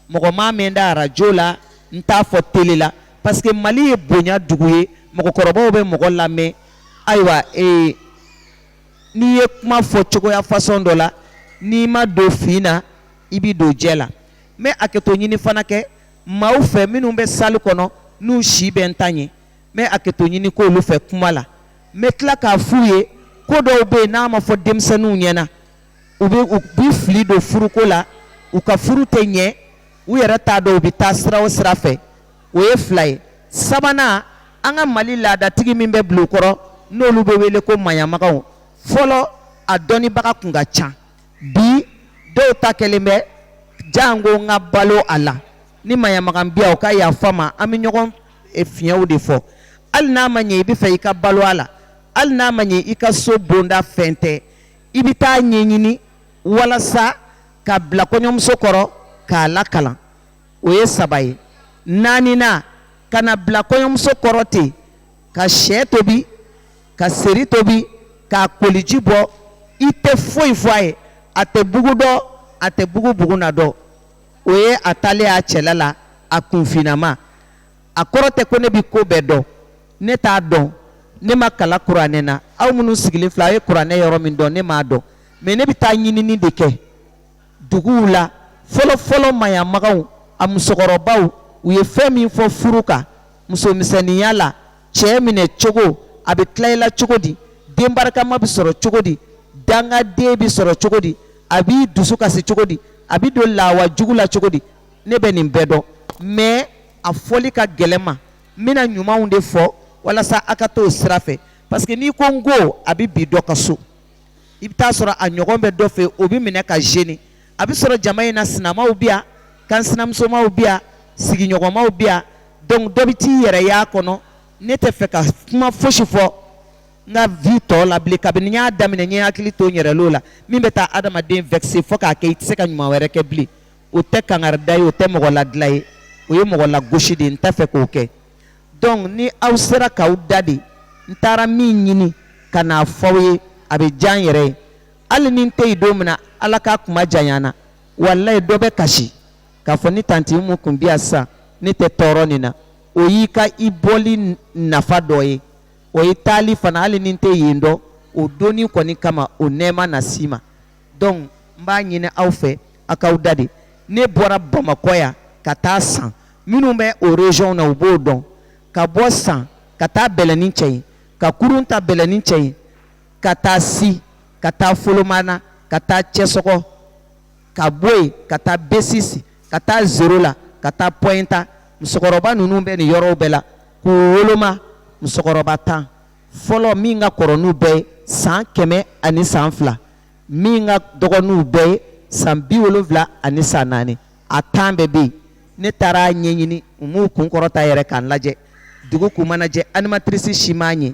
A: mɔgɔ m'a mɛn n da arajo la n t'a fɔ tele la parce que mali ye bonya dugu ye mɔgɔkɔrɔbaw bɛ mɔgɔ lamɛn ayiwa ee n'i ye kuma fɔ cogoya façon dɔ la n'i ma don fin na i bɛ don jɛ la n bɛ hakɛto ɲini fana kɛ maaw fɛ minnu bɛ salle kɔnɔ n'u si bɛ n ta ɲɛ n bɛ hakɛto ɲini k'olu fɛ kuma la n bɛ tila k'a f'u ye ko dɔw bɛ yen n'a ma fɔ denmisɛnninw ɲɛ na u bɛ fili don furuko la u ka furu tɛ ɲɛ u yɛrɛ t'a dɔn u bɛ taa sira o sira fɛ o ye fila ye sabanan an ka mali laadatigi min bɛ bulon kɔrɔ n'olu bɛ wele ko maɲamagaw fɔlɔ a dɔnnibaga tun ka ca bi dɔw ta kɛlen bɛ janko n ka balo a la ni maɲamaga bi yan o ka yafa n ma an bɛ ɲɔgɔn e, fiɲɛw de fɔ hali n'a ma ɲɛ i bɛ fɛ i ka balo a la hali n'a ma ɲɛ i ka so bonda fɛn tɛ i bɛ t'a ɲɛɲini walasa ka bila kɔɲɔmuso kɔrɔ k'a lakalan o ye saba ye naaninan kana bila kɔɲɔmuso kɔrɔ ten ka sɛ tobi ka seri tobi k'a koliji bɔ i tɛ foyi fɔ a ye a tɛ bugu dɔn a tɛ bugu bugu na dɔn o ye a taalen y'a cɛla la a kunfinama a kɔrɔ tɛ ko ne bɛ ko bɛɛ dɔn ne t'a dɔn ne ma kalan kuranɛ na aw minnu sigilen filɛ aw ye kuranɛ yɔrɔ min dɔn ne m'a dɔn mais ne bɛ taa ɲinini de kɛ duguw la fɔlɔfɔlɔ maɲamagaw a musokɔrɔbaw u ye fɛn min fɔ furu kan musomisɛnninya la cɛ minɛ cogo a bɛ tila i la cogo di den barikama bɛ sɔrɔ cogo di dangaden bɛ sɔrɔ cogo di a b'i dusu kasi cogo di a bɛ don lawa jugu la cogo di ne bɛ nin bɛɛ dɔn mais a fɔli ka gɛlɛn n ma n bɛna ɲumanw de fɔ walasa a ka t'o sira fɛ parce que n'i ko n ko a bɛ bi dɔ ka so i bɛ taa sɔrɔ a ɲɔgɔn bɛ dɔ fɛ o bɛ minɛ ka gêné a bɛ sɔrɔ jama in na sinamaw bi yan kan sinamusomaw bi yan sigiɲɔgɔnmaw bi yan donc dɔ bɛ t'i yɛrɛ y'a kɔnɔ ne tɛ fɛ ka kuma fosi fɔ n ka vie tɔ la bilen kabini n y'a daminɛ n ye hakili to n yɛrɛ l'o la min bɛ taa adamaden vexer fo k'a kɛ i tɛ se ka ɲuman wɛrɛ kɛ bilen o tɛ kangari da ye o tɛ mɔgɔ ladilan ye o ye mɔgɔ lagosi de ye n t'a fɛ k'o kɛ donc ni aw sera k'aw da de n taara min ɲini ka n'a fɔ aw ye a bɛ diya n yɛrɛ ye hali ni n tɛ yen don min na ala k'a kuma janya an na walayi dɔ bɛ kasi k'a fɔ ni tanti mu kun bi yan sisan ne tɛ tɔɔrɔ nin na o y'i ka i bɔli nafa dɔ ye o ye taali fana hali ni n tɛ yen dɔn o donni kɔni kama o nɛɛma na s'i ma donc n b'a ɲini aw fɛ a k'aw da de ne bɔra bamakɔ yan ka taa san minnu bɛ o région na u b'o dɔn ka bɔ san ka taa bɛlɛnincɛɲi ka kurun ta bɛlɛnincɛɲi ka taa si ka taa folomana ka taa cɛsɔgɔ ka bɔ yen ka taa besisi ka taa zoro la ka taa pɔyinta musokɔrɔba ninnu bɛ nin yɔrɔw bɛɛ la k'u woloma musokɔrɔba tan fɔlɔ min ka kɔrɔ n'u bɛɛ ye san kɛmɛ ani san fila min ka dɔgɔ n'u bɛɛ ye san bi wolonwula ani san naani a tan bɛɛ bɛ yen ne taara a ɲɛɲini u m'u kunkɔrɔta yɛrɛ ka n lajɛ dugu k'u manajɛ animatrice si m'a ɲɛ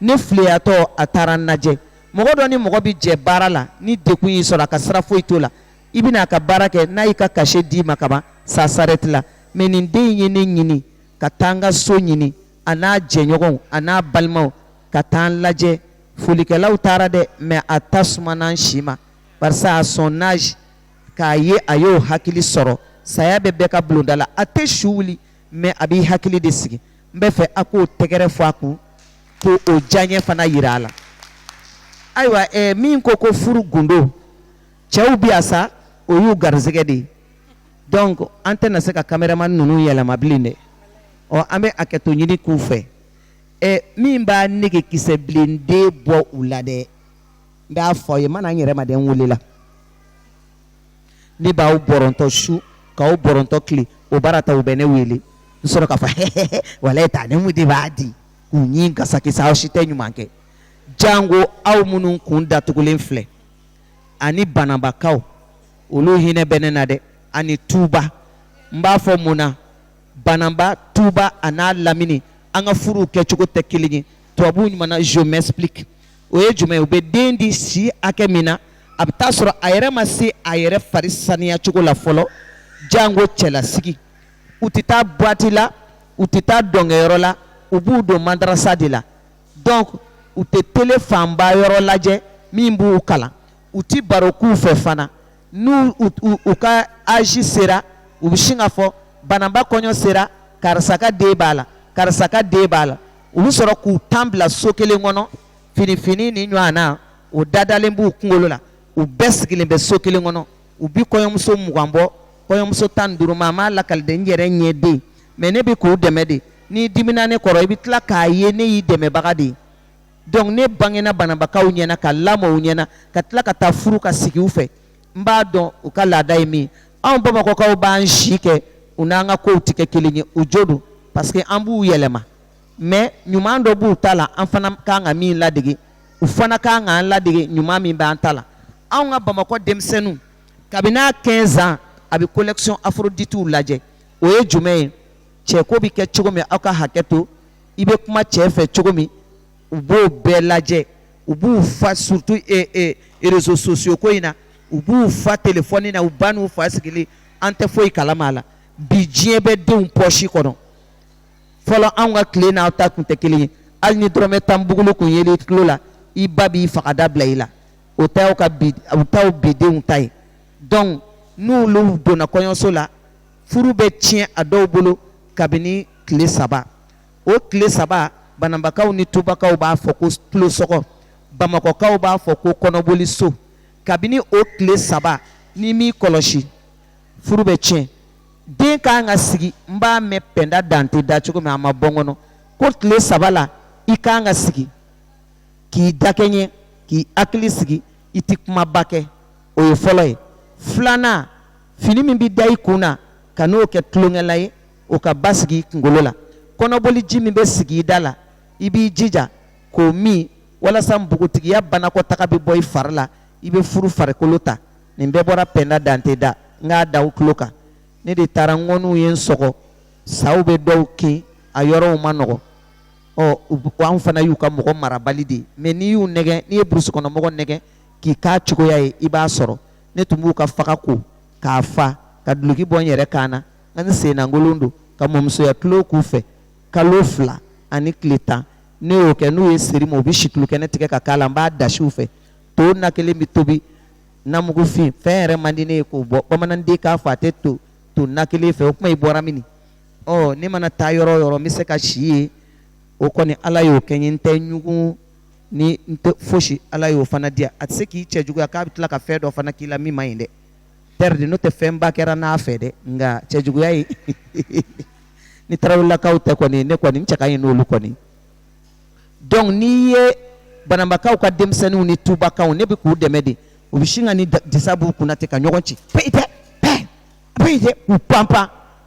A: ne filiyatɔ a taara n lajɛ mɔgɔ dɔ ni mɔgɔ bɛ jɛ baara la ni degun y'i sɔrɔ a ka sira foyi t'o la i bɛna a ka baara kɛ n'a y'i ka cachet d'i ma kaban ça s'arrête là mais nin den in ye ne ɲini ka taa n ka so ɲini a n'a jɛɲɔgɔnw a n'a balimaw ka taa n lajɛ folikɛlaw taara dɛ mais a ta sumana n si ma barisa à son âge k'a ye a y'o hakili sɔrɔ saya bɛ bɛɛ ka bulonda la a tɛ su wuli mais a b'i hakili de sigi n b'a fɛ a k'o tɛgɛrɛ fɔ a kun ko o diyaɲɛ fana yira a la ayiwa eh, min ko ko furu gundo cɛw bi yan sa o y'u garisɛgɛ de ye donc an tɛna se ka kameraman ninnu yɛlɛma bilen dɛ ɔ an bɛ hakɛto ɲini k'u fɛ eh, min b'a nege kisɛ bilen de bɔ u la dɛ n b'a fɔ a ye mana n yɛrɛ ma dɛ n welela ne b'aw bɔrɔntɔ su k'aw bɔrɔntɔ tile o baara ta u bɛ ne wele n sɔrɔ k'a fɔ hɛhɛhɛ walayi tanti mu de b'a di u ɲi gasakisa aw si tɛ ɲuman kɛ jango aw minnu kun datugulen filɛ ani banabakaw olu hinɛ bɛ ne na dɛ ani tuuba n b'a fɔ mun na banaba tuuba a n'a lamini an ka furuw kɛcogo tɛ kelen ye tubabuw ɲuman na je m'explique o ye jumɛn ye u bɛ den di si hakɛ min na a bɛ taa sɔrɔ a yɛrɛ ma se a yɛrɛ fari saniya cogo la fɔlɔ janko cɛlasigi u tɛ taa boîte la u tɛ taa dɔnkɛyɔrɔ la u b'u don madarasa de la donc u tɛ tele fanba yɔrɔ lajɛ min b'u kalan u tɛ baro k'u fɛ fana ni u ka âge sera u bɛ sin k'a fɔ banaba kɔɲɔ sera karisa ka den b'a la karisa ka den b'a la u bɛ sɔrɔ k'u tan bila so kelen kɔnɔ fini fin nin ɲɔgɔn na o dadalen b'u kunkolo la u bɛɛ sigilen bɛ so kelen kɔnɔ u bɛ kɔɲɔmuso mugan bɔ kɔɲɔmuso tan ni duuru maa m'a lakali dɛ n yɛrɛ ɲɛ don mɛ ne bɛ k'u dɛmɛ de n'i dimina ne kɔrɔ i bɛ tila k'a ye ne y'i dɛmɛbaga de ye donc ne bangena bananbakaw ɲɛna ka lamɔ u ɲɛna ka tila ka taa furu ka sigi u fɛ n b'a dɔn u ka laada ye min anw bamakɔkaw b'an si kɛ u n'an ka kow tɛ kɛ kelen ye u jo don parce que an b'u yɛlɛma mɛ ɲuman dɔ b'u ta la an fana kan ka min ladege u fana kan ka an ladege ɲuman min b'an ta la anw ka bamakɔ denmisɛnninw kabini a 15 ans a bɛ collection afroditiw lajɛ o ye jumɛn ye cɛko bɛ kɛ cogo min aw ka hakɛ to i bɛ kuma cɛ fɛ cogo min u b'o bɛɛ lajɛ u b'u fa surtout réseaux sociaux ko in na u b'u fa telefɔni na u ba n'u fa sigilen an tɛ foyi kalama la bi diɲɛ bɛ denw pɔsi kɔnɔ fɔlɔ anw ka tile n'aw ta tun tɛ kelen ye hali ni dɔrɔmɛ tan bukulu tun ye i tulo la i ba b'i faga da bila i la o taa ka taa bi denw ta ye donc n'u donna kɔɲɔso la furu bɛ tiɲɛ a dɔw bolo kabini tile saba o tile saba bananbakaw ni tubakaw b'a fɔ ko tulosɔgɔ bamakɔkaw b'a fɔ ko kɔnɔboli so kabini o tile saba n'i m'i kɔlɔsi furu bɛ tiɲɛ den ka kan ka sigi n b'a mɛn pɛnda dante da cogo min a ma bɔ n kɔnɔ ko tile saba la i ka kan ka sigi k'i dakɛɲɛ k'i hakili sigi i tɛ kumaba kɛ o ye fɔlɔ ye filanan fini min bɛ da i kun na kan'o kɛ tulonkɛlan ye o ka basigi i kunkolo la kɔnɔboli ji min bɛ sigi i da la i b'i jija k'o min walasa npogotigiya banakɔtaa bɛ bɔ i fari la i bɛ furu farikolo ta nin bɛɛ bɔra pɛnda dante da n k'a da aw tulo kan ne de taara ŋɔniw ye n sɔgɔ sa bɛ dɔw kin a yɔrɔw ma nɔgɔ ɔ u anw fana y'u ka mɔgɔ marabali de ye mɛ n'i y'u nɛgɛn n'i ye burusikɔnɔmɔgɔ nɛgɛn k'i ka cogoya ye i b'a sɔrɔ ne tun b'u ka faga ko k'a fa ka duloki bɔ n yɛrɛ kan na ani sennakolon don ka mɔmusoya tulon k'u fɛ kalo fila ani tile tan ne y'o kɛ n'u ye seri ma u bɛ situlu kɛnɛ tigɛ ka k'a la n b'a dasiw fɛ to na kelen bɛ tobi namugufin fɛn yɛrɛ man di ne ye k'o bɔ bamananden k'a fɔ a tɛ to to na kelen fɛ o kuma i bɔra min ɔ ne mana taa yɔrɔ o yɔrɔ n bɛ se ka si yen o kɔni ala y'o kɛ n ye n tɛ ɲugun ni n tɛ fosi ala y'o fana di yan a tɛ se k'i cɛjuguya k'a bɛ tila ka fɛn dɔ fana k'i la min man ɲi dɛ pɛridi n'o tɛ fɛnba kɛra n'a fɛ dɛ nka cɛ juguya ye ni tarawelelakaw tɛ kɔni ne kɔni cɛ ka ɲi n'olu kɔni dɔnku n'i ye bananbakaw ka denmisɛnninw ni tubakaw ne bɛ k'u dɛmɛ de u bɛ sin ka ni disa b'u kunna ten ka ɲɔgɔn ci pe tɛ pe tɛ u panp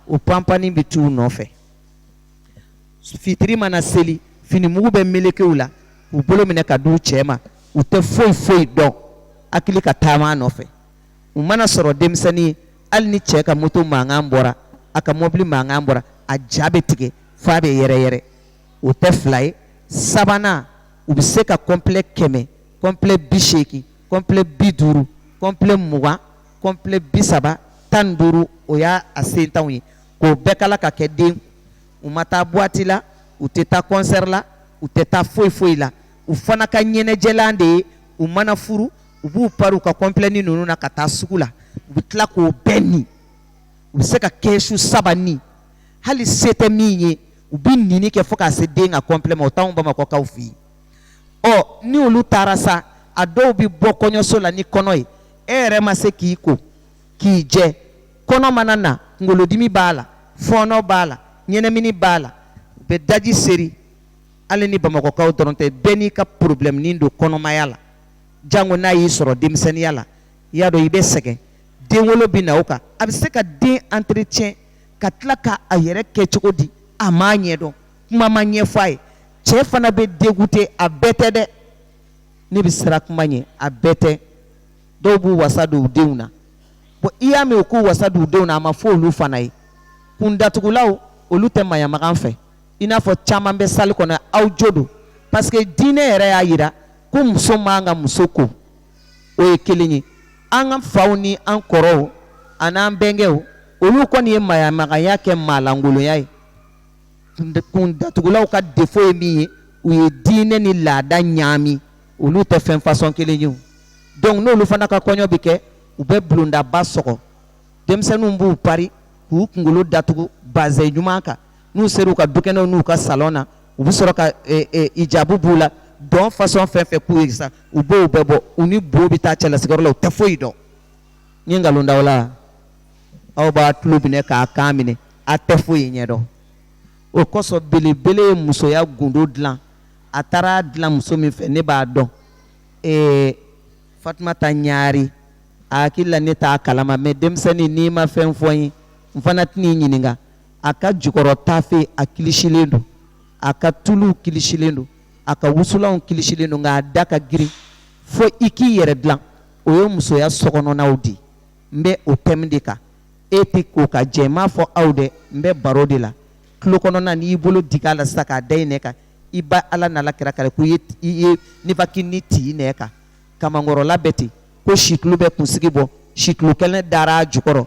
A: u panpin bɛ tu u nɔfɛ fitiri mana seli finimugu bɛ meleke u la u bolo minɛ ka d'u cɛ ma u tɛ foyi foyi dɔn hali ka taama nɔfɛ u mana sɔrɔ denmisɛnnin ye hali ni cɛ ka moto mankan bɔra a ka mɔbili mankan bɔra a ja bɛ tigɛ f'a bɛ yɛrɛyɛrɛ o tɛ fila ye sabanan u bɛ se ka kɔnplɛ kɛmɛ kɔnplɛ bi seegin kɔnplɛ bi duuru kɔnplɛ mugan kɔnplɛ bi saba tan duuru o y'a sentanw ye k'o bɛɛ kala ka kɛ den u ma taa buwati la u tɛ taa kɔnsɛri la u tɛ taa foyi foyi la u fana ka ɲɛnajɛlan de ye u mana furu u b'u pari u ka kɔnplɛni ninnu na ka taa sugu la u bɛ tila k'o bɛɛ ni u bɛ se ka kɛsu saba ni hali se tɛ min ye u bɛ nini kɛ fo ka se den ka kɔnplɛ ma o t'anw bamakɔkaw fɛ yen ɔ ni olu taara sa a dɔw bɛ bɔ kɔɲɔso la ni kɔnɔ ye e yɛrɛ ma se k'i ko k'i jɛ kɔnɔ mana na kunkolodimi b'a la fɔɔnɔ b'a la ɲɛnamini b'a la u bɛ daji seri hali ni bamakɔkaw dɔrɔn tɛ bɛɛ n'i ka porobilɛmunin don kɔnɔmaya la jango n'a y'i sɔrɔ denmisɛnninya la i y'a dɔn i bɛ sɛgɛn den wolo bɛ na o kan a bɛ se ka den entretien ka tila ka a yɛrɛ kɛ cogo di a m'a ɲɛdɔn kuma ma ɲɛfɔ a ye cɛ fana bɛ dégoûter a bɛɛ tɛ dɛ ne bɛ siran kuma ɲɛ a bɛɛ tɛ dɔw b'u wasa don u denw na bon i y'a mɛn u k'u wasa don u denw na a ma fɔ olu fana ye kundatugulaw olu tɛ maɲamagan fɛ i n'a fɔ caman bɛ salle kɔnɔ aw jo don parce que diinɛ yɛrɛ y'a jira ko muso man kan ka muso ko o ye kelen ye an ka faw ni an kɔrɔw ani an bɛnkɛw olu kɔni ye maɲamaganya kɛ maalankolonya ye kundatugulaw ka defo ye min ye u ye diinɛ ni laada ɲaami olu tɛ fɛn fasɔn kelen ye donc n'olu fana ka kɔɲɔ bɛ kɛ u bɛ bulondaba sɔgɔ denmisɛnninw b'u pari k'u kunkolo datugu bazɛn ɲuman kan n'u sera u ka dukɛnɛw n'u ka salɔn na u bɛ sɔrɔ ka e, e, ijabu b'u la dɔn fasɔn fɛn fɛn k'u ye sa u b'o bɛɛ bɔ u ni bo bɛ taa cɛlasigiyɔrɔ la u tɛ foyi dɔn n ye nkalon da aw la aw b'a tulo minɛ k'a kan minɛ a tɛ foyi ɲɛ dɔn o kosɔn belebele ye musoya gundo dilan a taara dilan muso min fɛ ne b'a dɔn ee fatumata ɲaari a hakili la ne t'a kalama mɛ denmisɛnnin n'i ma fɛn fɔ n ye n fana tɛn'i ɲininka a ka jukɔrɔ taafe a kilisilen don a ka tulu kilisilen don a ka wusulanw kilisilen don nka a da ka girin fo i k'i yɛrɛ dilan o ye musoya sokɔnɔnaw di n bɛ o thème de kan e tɛ ko ka jɛ n m'a fɔ aw dɛ n bɛ baro de la tulo kɔnɔna n'i y'i bolo digi a la sisan k'a da i nɛn kan i bɛ ala n'a la kira kali ko i ye nifakini ti i nɛn kan kamankɔrɔla bɛ ten ko situlu bɛ kunsigi bɔ situlu kɛnɛ dara a jukɔrɔ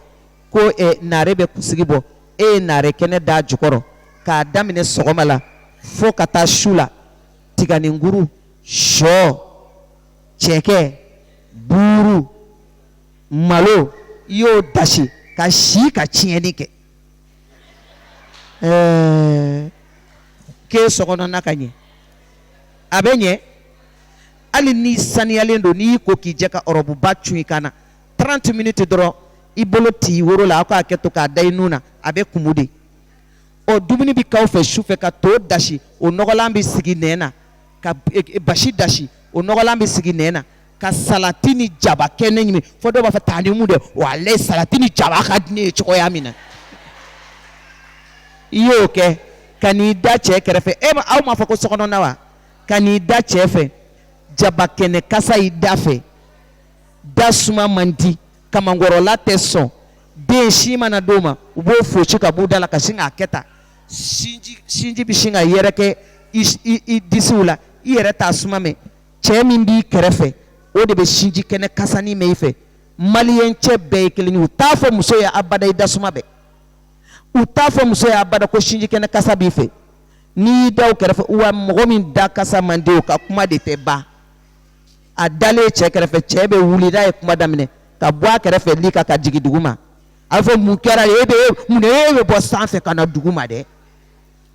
A: ko ɛ naare bɛ kunsigi bɔ e ye naare kɛnɛ da jukɔrɔ k'a daminɛ sɔgɔma la fo ka taa su la tiganinkuru shɔ cɛkɛ buuru malo i y'o dasi ka si ka tiɲɛni kɛ ɛɛ k'e sokɔnɔna ka ɲɛ a bɛ ɲɛ hali n'i saniyalen don n'i y'i ko k'i jɛ ka ɔrɔbuba cun i kan na 30 minutes dɔrɔn i bolo t'i woro la aw k'a kɛ tan k'a da i nun na a bɛ kumu de ɔ dumuni bɛ k'aw fɛ su fɛ ka to dasi o nɔgɔlan bɛ sigi nɛn na ka e, e, basi dasi o nɔgɔlan bɛ sigi nɛn na ka salati ni jaba kɛnɛ ɲimi fo dɔw b'a fɔ taa ni mun dɛ walayi salati ni jaba ka di ne ye cogoya min na i y'o kɛ ka n'i da cɛ kɛrɛfɛ e aw m'a fɔ ko sokɔnɔna wa ka n'i da cɛ fɛ jaba kɛnɛ kasa y'i da fɛ da suma man di kamankɔrɔla tɛ sɔn den sin mana d'o ma u b'o foosi ka b'u da la ka sin k'a kɛ tan sinji sinji bɛ sin ka yɛrɛkɛ i i i disiw la i yɛrɛ t'a suma mɛn cɛ min b'i kɛrɛfɛ o de bɛ sinji kɛnɛ kasanin mɛn i fɛ maliyɛn cɛ bɛɛ ye kelen ye u t'a fɔ muso ye abada i da suma bɛɛ u t'a fɔ muso ye abada ko sinji kɛnɛ kasa b'i fɛ n'i y'i da o kɛrɛfɛ wa mɔgɔ min da kasa man di o ka kuma de tɛ ban a dalen cɛ kɛrɛfɛ cɛ bɛ wuli n'a ye kuma daminɛ ka bɔ a kɛrɛfɛ li kan ka jigin dugu ma a b'a fɔ mun kɛra e bɛ mun de e bɛ bɔ sanfɛ ka na dugu ma dɛ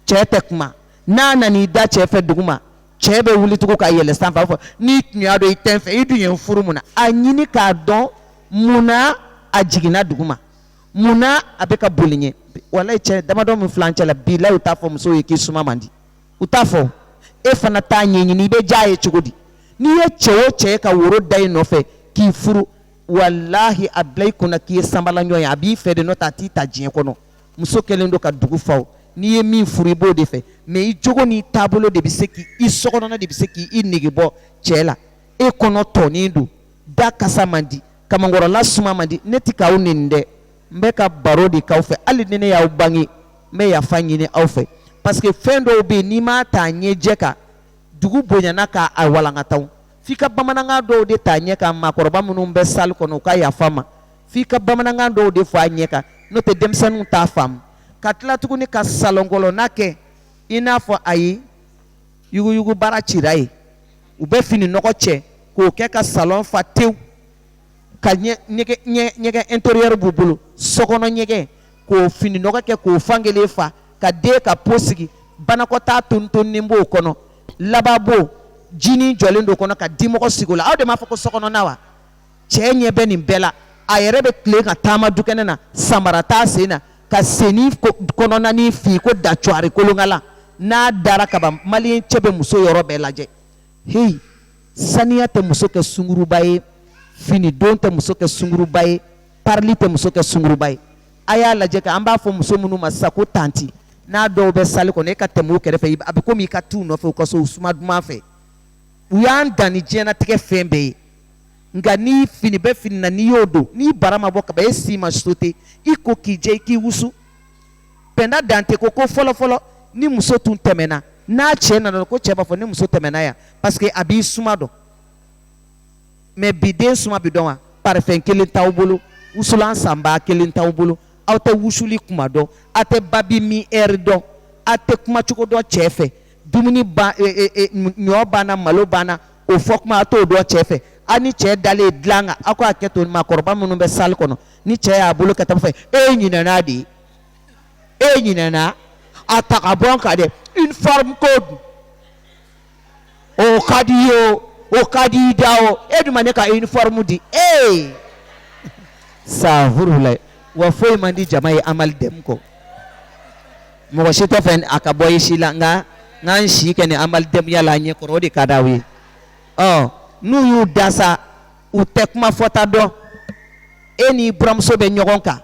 A: cɛ tɛ kuma n'a nana i da cɛ fɛ dugu ma cɛ bɛ wuli tugun ka yɛlɛ sanfɛ a b'a fɔ n'i tun y'a dɔn i tɛ n fɛ i dun ye n furu mun na a ɲini k'a dɔn mun na a jiginna dugu ma mun na a bɛ ka boli i ɲɛ walayi cɛ damadɔ min filɛ an cɛ la bilayi u t'a fɔ musow ye k'i suma man di u t'a fɔ e fana t'a ɲɛɲini i bɛ diya a ye cogo di n'i ye cɛ o cɛ ye ka woro da i nɔfɛ k'i furu walahi a bila i kunna k'i ye sanbalaɲɔ ye a b'i fɛ de n'o tɛ a t'i ta diɲɛ kɔnɔ muso kɛlen don ka dugu fa n'i ye min furu i b'o de fɛ mɛ i jogo n'i taabolo de bɛ se k'i i sokɔnɔna de bɛ se k'i i nege bɔ cɛ la e kɔnɔ tɔnin don da kasa man di kamankɔrɔla suma man di ne tɛ k'aw neni dɛ n bɛ ka baro de k'aw fɛ hali ni ne y'aw bange n bɛ yafa ɲini aw fɛ parce que fɛn dɔw bɛ yen n'i m'a ta ɲɛjɛ kan dugu bonyana k'a walankata f'i ka bamanankan dɔw de ta ɲɛ kan maakɔrɔba minnu bɛ salle kɔnɔ u ka yafa n ma f'i ka bamanankan dɔw de fɔ a ɲɛ kan n'o tɛ denmisɛnninw t'a faamu ka tila tuguni ka salɔn kɔnɔna kɛ i n'a fɔ ayi yuguyugu baara cira yen u bɛ fini nɔgɔ cɛ k'o kɛ ka salɔn fa tewu ka ɲɛgɛn intérieur b'u bolo sokɔnɔ ɲɛgɛn k'o fini nɔgɔ kɛ k'o fan kelen fa ka den ka po sigi banakɔtaa tonitonni b'o kɔnɔ lavabo jinin jɔlen d'o kɔnɔ ka dimɔgɔ sigi o la aw de m'a fɔ ko sokɔnɔna wa cɛ ɲɛ bɛ nin bɛɛ la a yɛrɛ bɛ tilen ka taama dukɛnɛ na samara t'a sen na ka sennin kɔnɔnanin fin ko dacuari kolonkalan n'a dara kaban maliyɛn cɛ bɛ muso yɔrɔ bɛɛ lajɛ heyi saniya tɛ muso kɛ sungurunba ye fini don tɛ muso kɛ sungurunba ye parili tɛ muso kɛ sungurunba ye a y'a lajɛ an b'a fɔ muso minnu ma sisan ko tanti n'a dɔw bɛ salle kɔnɔ i ka tɛm'u kɛrɛfɛ a bɛ komi i ka t'u nɔfɛ u ka so suma duman fɛ u y'an dan ni diɲɛnatigɛ fɛn bɛɛ ye nka ni fini bɛ fini na n'i y'o don n'i bara ma bɔ kaban e sin ma so ten i ko k'i jɛ i k'i wusu pɛnda dante ko ko fɔlɔfɔlɔ ni muso tun tɛmɛna n'a cɛ nana ko cɛ b'a fɔ ne muso tɛmɛna yan parce que a b'i suma dɔn mais bi den suma bɛ dɔn wa parfum kelen t'aw bolo wusulan sanba kelen t'aw bolo aw tɛ wusuli kuma dɔn aw tɛ babi min heure dɔn aw tɛ kumacogo dɔn cɛ fɛ dumuni ba e, e, e, ɲɔ banna malo banna o fɔ kuma aw t'o dɔn cɛ fɛ aw ni cɛ dalen dilan kan aw k'a kɛ to maakɔrɔba minnu bɛ salle kɔnɔ ni cɛ y'a bolo ka taa fɛ e ɲinɛna de ye e ɲinɛna a ta ka bɔ n kan dɛ uniforme ko dun o ka di i ye o o ka di i da o e dun ma ne ka uniforme di ee safurulayi wa foyi man di jama ye amali dɛmu kɔ mɔgɔ si t'a fɛ a ka bɔ i si la nka n k'an si kɛ ni amali dɛmuya la a ɲɛ kɔrɔ o de ka d'aw ye ɔ n'u y'u da sa u tɛ kuma fɔta dɔn e n'i buranmuso bɛ ɲɔgɔn kan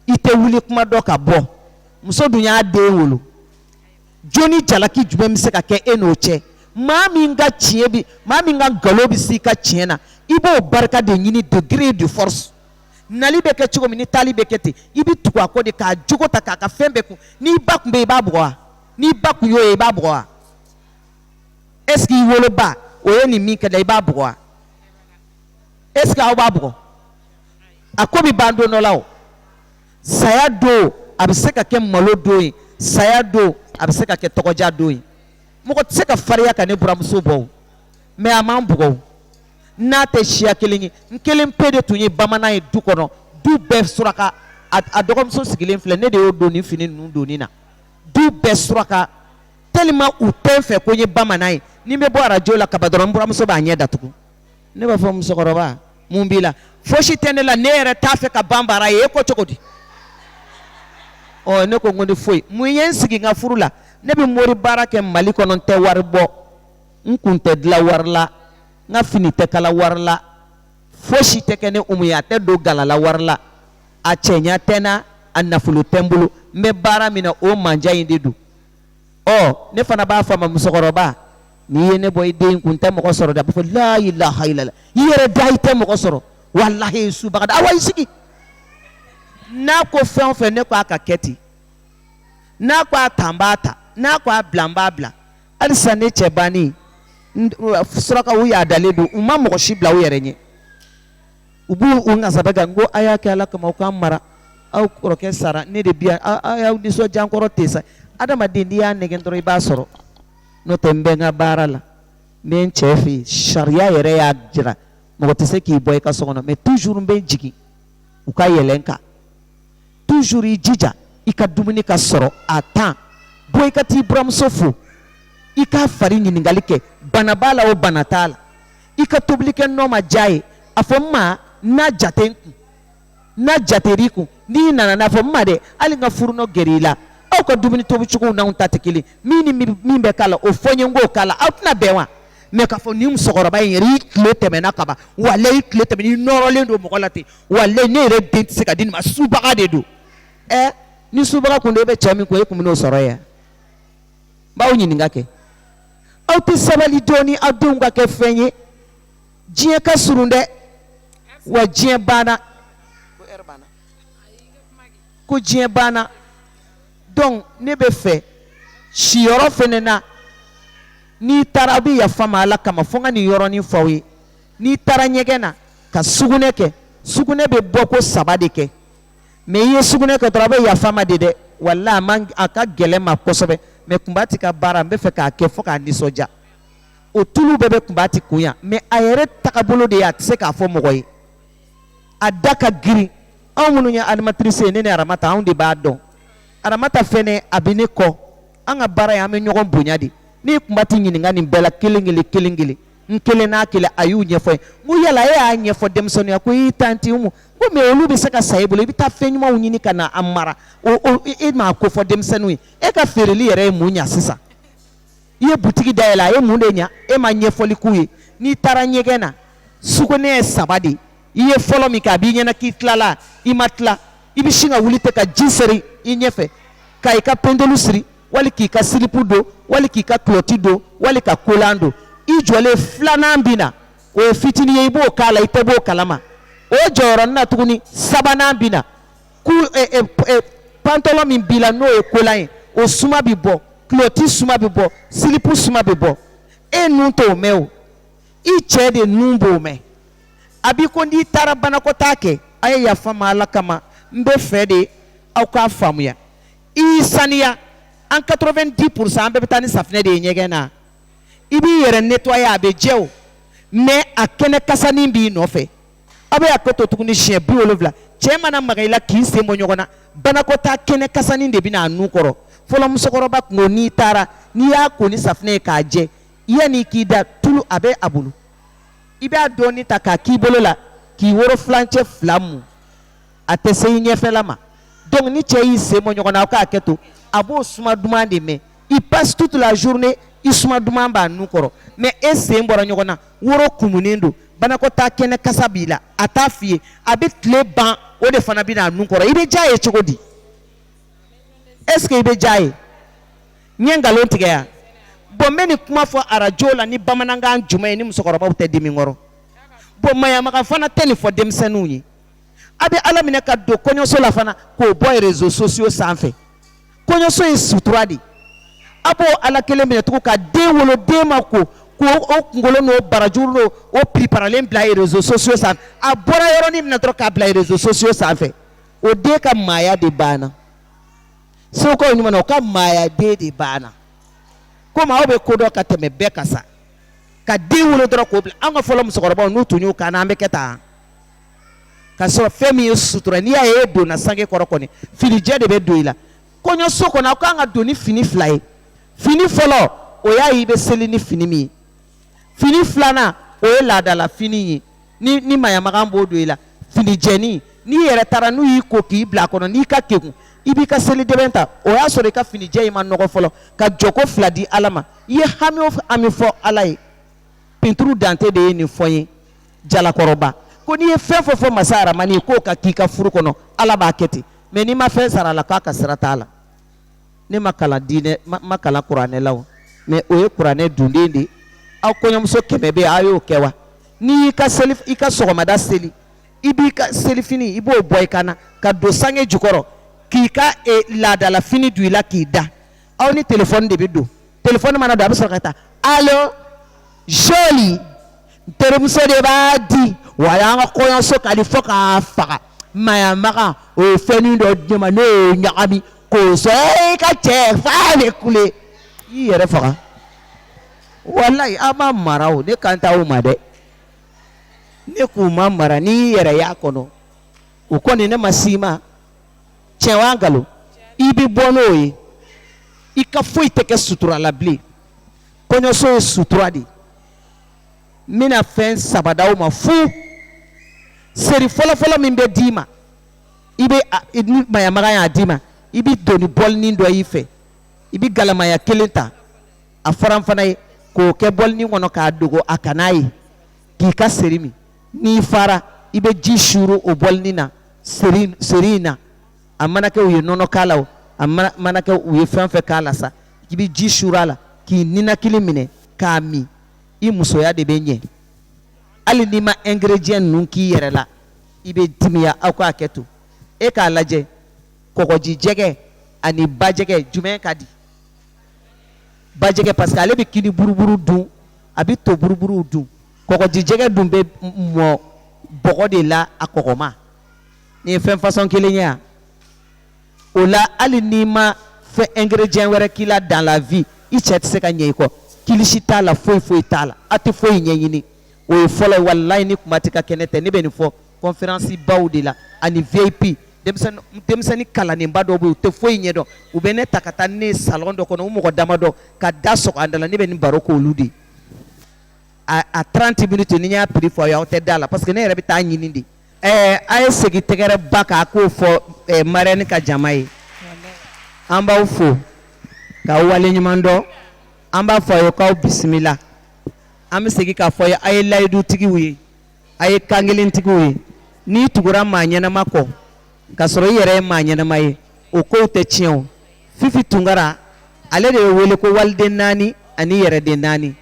A: i tɛ wuli kuma dɔn ka bɔ muso dun y'a den wolo jo ni jalaki jumɛn bɛ se ka kɛ e n'o cɛ maa min ka tiɲɛ bɛ maa min ka nkalon bɛ s'i ka tiɲɛ na i b'o barika de ɲini de gré de force nali bɛ kɛ cogo min ni taali bɛ kɛ ten i bɛ tugu a kɔ de k'a jogo ta k'a ka fɛn bɛɛ kun n'i ba tun bɛ yen i b'a bugɔ wa n'i ba tun y'o ye i b'a bugɔ wa est-ce que i woloba o ye nin min kɛ la i b'a bugɔ wa est ce que aw b'a bugɔ a ko bɛ ban don dɔ la o saya don a bɛ se ka kɛ malo don ye saya don a bɛ se ka kɛ tɔgɔja don ye mɔgɔ tɛ se ka fariya ka ne buramuso bɔ o mɛ a ma bugɔ o n n'a tɛ siya kelen ye n kelen pe de tun ye bamanan ye du kɔnɔ du bɛɛ suraka a, a dɔgɔmuso sigilen filɛ ne de y'o don nin fini ninnu donni na du bɛɛ suraka tellement u tɛ n fɛ ko n ye bamanan ye ni n bɛ bɔ arajo la kaba dɔrɔn n buramuso b'a ɲɛ datugu ne b'a fɔ musokɔrɔba mun b'i la fosi tɛ ne la ne yɛrɛ t'a fɛ ka banbara ye e ko cogo di ɔ ne ko n ko ni foyi mun ye n sigi n ka furu la ne bɛ mori baara kɛ mali kɔnɔ n tɛ wari bɔ n kun tɛ dila wari la n ka fini tɛ kala wari la fosi tɛ kɛ ne umu ye a tɛ don galala wari la a cɛɲa tɛ n na a nafolo tɛ n bolo n bɛ baara min na o mandiya in de don ɔ ne fana b'a fɔ a ma musokɔrɔba n'i ye ne bɔ i den kun tɛ mɔgɔ sɔrɔ da b'a fɔ la ilaha illallah i yɛrɛ da i tɛ mɔgɔ sɔrɔ walahi subaga da awa i sigi n'a ko fɛn o fɛn ne ko a ka kɛ ten n'a ko a ta n b'a ta n'a ko a bila n b'a bila halisa ne cɛ bannen surakaw y'a dalen don u ma mɔgɔ si bila u yɛrɛ ɲɛ u b'u u nasa kan ko a y'a kɛ ala kama aw ka mara aw kɔrɔkɛ sara ne de bi aw y'aw nisɔndiya ɲankɔrɔ tɛ sa adamaden n'i y'a nɛgɛ dɔrɔn i b'a sɔrɔ n'o tɛ n bɛ n ka baara la n bɛ n cɛ fɛ yen sariya yɛrɛ y'a jira mɔgɔ tɛ se k'i bɔ i ka so kɔnɔ mɛ toujours bɛ jigin u ka yɛlɛ kan toujours i jija i ka dumuni ka sɔrɔ à temps bɔ i ka t'i buramuso fo i k'a fari ɲininkakali kɛ bana b'a la o bana t'a la i ka tobili kɛ n'o ma diya i ye a fɔ n ma n'a jate n kun n'a jateri i kun n'i nana n'a fɔ n ma dɛ hali n ka furunɔ gɛrɛ i la aw ka dumuni tobi cogow n'anw ta tɛ kelen min ni min bɛ k'a la o fɔ n ye n k'o k'a la aw tɛna bɛn wa mɛ k'a fɔ nin musokɔrɔba in yɛrɛ i tile tɛmɛna kaban walayi i tile tɛmɛna i nɔrɔlen don mɔgɔ la ten walayi ne yɛrɛ den tɛ se ka di nin ma subaga de don ɛ ni subaga kun don e bɛ cɛ min kun e kun bɛn'o sɔrɔ yan n b'aw ɲininka kɛ aw tɛ sabali dɔɔni aw denw ka kɛ fɛn ye diɲɛ ka surun dɛ wa diɲɛ banna ko diɲɛ banna donc ne bɛ fɛ siyɔrɔ fana na n'i taara aw bɛ yafa n ma Ala kama fo n ka nin yɔrɔnin fɔ aw ye n'i taara ɲɛgɛn na ka sugunɛ kɛ sugunɛ bɛ bɔ ko saba de kɛ. mais i ye sugunɛ kɛ dɔrɔn a bɛ yafa ma de dɛ wala a man a ka gɛlɛn ma kosɛbɛ mais kunba tɛ ka baara n bɛ fɛ k'a kɛ fɔ k'a nisɔndiya o tulu bɛɛ bɛ kunba tɛ kun yan mais a yɛrɛ tagabolo de ye a tɛ se k'a fɔ mɔgɔ ye a da ka girin anw minnu ye animatrice ye ne ni aramata anw de b'a dɔn aramata fɛnɛ a bɛ ne kɔ an ka baara ye an bɛ ɲɔgɔn bonya de n'i kunba tɛ ɲininka nin bɛɛ la kelen kelen kelen kelen n kelen n'a kelen a y'u ɲɛfɔ ye ko yala e y'a ɲɛfɔ denmisɛnninw ye ko i tanti mu ko mɛ olu bɛ se ka sa e bolo i bɛ taa fɛn ɲumanw ɲini ka na a mara o o e m'a ko fɔ denmisɛnninw ye e ka feereli yɛrɛ ye mun ɲa sisan i ye butigi dayɛlɛ a ye mun de ɲa e ma ɲɛfɔli k'u ye n'i taara ɲɛgɛn na sugunɛ ye saba de i ye fɔlɔ min kɛ a b'i ɲɛna k'i tilala i ma tila i bɛ sin ka wuli ten ka ji seri i ɲɛfɛ ka i ka pendelu siri wali k'i ka silipu don wali k'i ka kulɔti don wali ka kolan don i jɔlen filanan bɛ na o ye fitinin ye i b'o k'a la i tɛ b'o kalama o jɔyɔrɔnin na tuguni sabanan bɛ na ku eh, eh, eh, pantalon min b'i la n'o ye kolan ye o suma bɛ bɔ kulɔti suma bɛ bɔ silipu suma bɛ bɔ e nun t'o mɛn o i cɛ de nun b'o mɛn a b'i ko n'i taara banakɔtaa kɛ a ye yafa ma ala kama n bɛ fɛ de aw k'a faamuya i saniya an 90 pourcent an bɛɛ bɛ taa ni safinɛ de ye ɲɛgɛn na i b'i yɛrɛ nettoyer a bɛ jɛ o mais a kɛnɛ kasanin b'i nɔfɛ aw bɛ a ko to tuguni siɲɛ bi wolonwula cɛ mana maga i la k'i sen bɔ ɲɔgɔn na banakɔtaa kɛnɛ kasanin de bɛna a nun kɔrɔ fɔlɔ musokɔrɔba tun ko n'i taara n'i y'a ko ni safinɛ ye k'a jɛ yanni k'i da tulu a bɛ a bolo i b'a dɔɔni ta k'a k'i bolo la k'i woro fulancɛ fila mun a tɛ se i ɲɛfɛla ma donc ni cɛ y'i sen bɔ ɲɔgɔn na aw k'a kɛtɔ a b'o suma duman de mɛn il passe toute la journée i suma duman b'a nun kɔrɔ mais e sen bɔra ɲɔgɔn na woro kumunen don banakɔtaa kɛnɛ kasa b'i la a t'a f'i ye a bɛ tile ban o de fana bɛna a nun kɔrɔ i bɛ diya ye cogo di est ce que i bɛ diya ye n ye nkalon tigɛ yan bon n bɛ nin kuma fɔ arajo la ni bamanankan jumɛn ye ni musokɔrɔbaw tɛ dimi kɔrɔ bon maɲamagan fana tɛ nin fɔ denmisɛnninw ye a bɛ ala minɛ ka don kɔɲɔso la fana k'o bɔ réseaux sociaux sanfɛ kɔɲɔso ye sutura de a b'o ala kelen minɛ tugun ka den wolo den ma ko ko o kunkolo n'o barajuru don o pplen bila réseaux sociaux sanfɛ a bɔra yɔrɔnin min na dɔrɔn k'a bila réseaux sociaux sanfɛ o den ka maaya de banna segukaw ɲuman o ka maaya den de banna komi aw bɛ ko dɔn ka tɛmɛ bɛɛ kan sa ka den wolo dɔrɔn k'o bila an ka fɔlɔ musokɔrɔba n'u tun y'u kan an bɛ kɛ taa ka sɔrɔ fɛn min ye sutura n'i y'a ye i donna sange kɔrɔ kɔni finijɛ de bɛ don i la kɔɲɔso kɔnɔ aw kan ka don ni fini fila ye fini fɔlɔ o y'a ye i bɛ seli ni fini min ye fini filanan o ye laadala fini ye ni ni maɲamagan b'o don i la finijɛnin n'i yɛrɛ taara n'u y'i ko k'i bila a kɔnɔ n'i ka kegun i b'i ka selidɛbɛn ta o y'a sɔrɔ i ka finijɛ in ma nɔgɔ fɔlɔ ka jɔko fila di ala ma i ye hami o hami fɔ ala ye pinturu dante de ye nin fɔ ye jalakɔrɔba ko n'i ye fɛn fɔ fɔ masa aramani ye k'o ka k'i ka furu kɔnɔ ala b'a kɛ ten mɛ n'i ma fɛn sara a la k'a ka sira t'a la ne ma kalan dɛ ne ma kalan kuranɛ la o mɛ o ye kuranɛ dunden de ye aw kɔɲɔmuso kɛmɛ bɛ a y'o kɛ wa n'i y'i ka seli i ka sɔgɔmada seli i b'i ka selifini i b'o bɔ i ka na ka don sange jukɔrɔ k'i ka e, laadalafini don i la k'i da aw ni telefɔni de bɛ don telefɔni mana don a bɛ sɔrɔ k'a ta alo joli n terimuso de b'a di walayi n ka kɔɲɔso ka di fo k'a faga maɲamaga o ye fɛnnin dɔ di ne ma ne y'o ɲagami k'o sɔrɔ i ka cɛ f'a bɛ kule i yɛrɛ faga walayi aw ma mara o ne kan t'aw ma dɛ ne k'u ma mara n'i y'i yɛrɛ y'a kɔnɔ o kɔni ne ma s'i ma. tiɲɛ wa nkalon i bɛ bɔ n'o ye i ka foyi tɛ kɛ sutura la bilen kɔɲɔso ye sutura de ye n bɛna fɛn saba d'aw ma fu seri fɔlɔfɔlɔ min bɛ d'i ma i bɛ ni maɲamaga y'a d'i ma i bɛ don ni bɔlinin dɔ y'i fɛ i bɛ galama ɲɛ kelen ta a faranfana ye k'o kɛ bɔlinin kɔnɔ k'a dogo a kan'a ye k'i ka seri min n'i fara i bɛ ji suuru o bɔlinin na seri seri in na a mana kɛ u ye nɔnɔ k'a la o a mana mana kɛ u ye fɛn o fɛn k'a la sa i bɛ ji suuru a la k'i ninakili minɛ k'a min i musoya de bɛ ɲɛ hali n'i ma ingrédients ninnu k'i yɛrɛ la i bɛ timiya aw k'a kɛ to e k'a lajɛ kɔgɔjijɛgɛ ani bajɛgɛ jumɛn ka di bajɛgɛ parce que ale bɛ kini buruburu dun a bɛ to buruburuw dun kɔgɔjijɛgɛ dun bɛ mɔ bɔgɔ de la a kɔgɔma nin ye fɛn fasɔn kelen ye yan o la hali n'i ma fɛn ingrédient wɛrɛ k'i la dans la vie i cɛ tɛ se ka ɲɛ i kɔ kilisi t'a la foyi foyi t'a la a tɛ foyi ɲɛɲini o ye fɔlɔ ye walayi nin kuma tɛ ka kɛnɛ tɛ ne bɛ nin fɔ conférence baw de la ani VIP denmisɛnnin denmisɛnnin kalannenba dɔw bɛ yen u tɛ foyi ɲɛdɔn u bɛ ne ta ka taa ne ye salon dɔ kɔnɔ u mɔgɔ damadɔ ka da sɔgɔ a da la ne bɛ nin baro k'olu de ye a tranti miniti n'i y'a prix fɔ aw tɛ da a la parce que ne yɛrɛ bɛ taa ɲini de ɛɛ a ye segin tɛgɛrɛba kan a k'o fɔ marraine ka jama ye an b'aw fo k'aw waleɲuman dɔn an b'a fɔ a ye k'aw bisimila an bɛ segin k'a fɔ a ye a ye layidutigiw ye a ye kankelentigiw ye n'i tugura maa ɲɛnama kɔ ka sɔrɔ i yɛrɛ ye maa ɲɛnama ye o kow tɛ tiɲɛ fifi tunkara ale de bɛ wele ko waliden naani ani yɛrɛden naani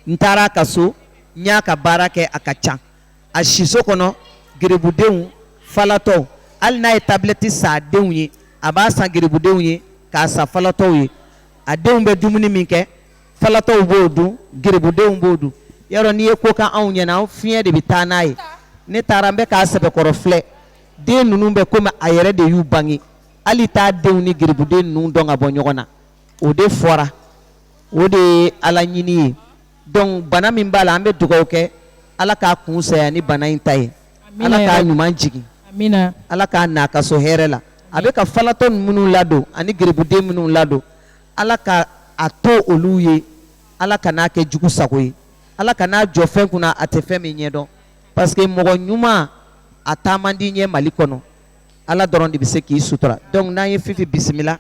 A: n taara a ka so n y'a ka baara kɛ a ka ca a siso kɔnɔ garibudenw falatɔw hali n'a ye tablɛti san a denw ye a b'a san garibudenw ye k'a san falatɔw ye a denw bɛ dumuni min kɛ falatɔw b'o dun garibudenw b'o dun yɔrɔ n'i ye ko ka anw ɲɛna fiɲɛ de bɛ taa n'a ye ne taara n bɛ k'a sɛbɛkɔrɔ filɛ den ninnu bɛ komi a yɛrɛ de y'u bange hali i t'a denw ni garibudenw ninnu dɔn ka bɔ ɲɔgɔn na o de fɔra o de ye ala ɲini ye dɔnku bana min b'a la an bɛ dugawu kɛ ala k'a kun saya ni bana in ta ye ala k'a ɲuman jigin ala k'a na a ka so hɛrɛ la a bɛ ka falatɔ minnu ladon ani garibudenw minnu ladon ala ka a to olu ye ala kan'a kɛ jugu sago ye ala kan'a jɔ fɛn kunna a tɛ fɛn min ɲɛ dɔn paseke mɔgɔ ɲuman a taa man di an ye mali kɔnɔ Ala dɔrɔn de bɛ se k'i sutura dɔnku n'an ye fifi bisimila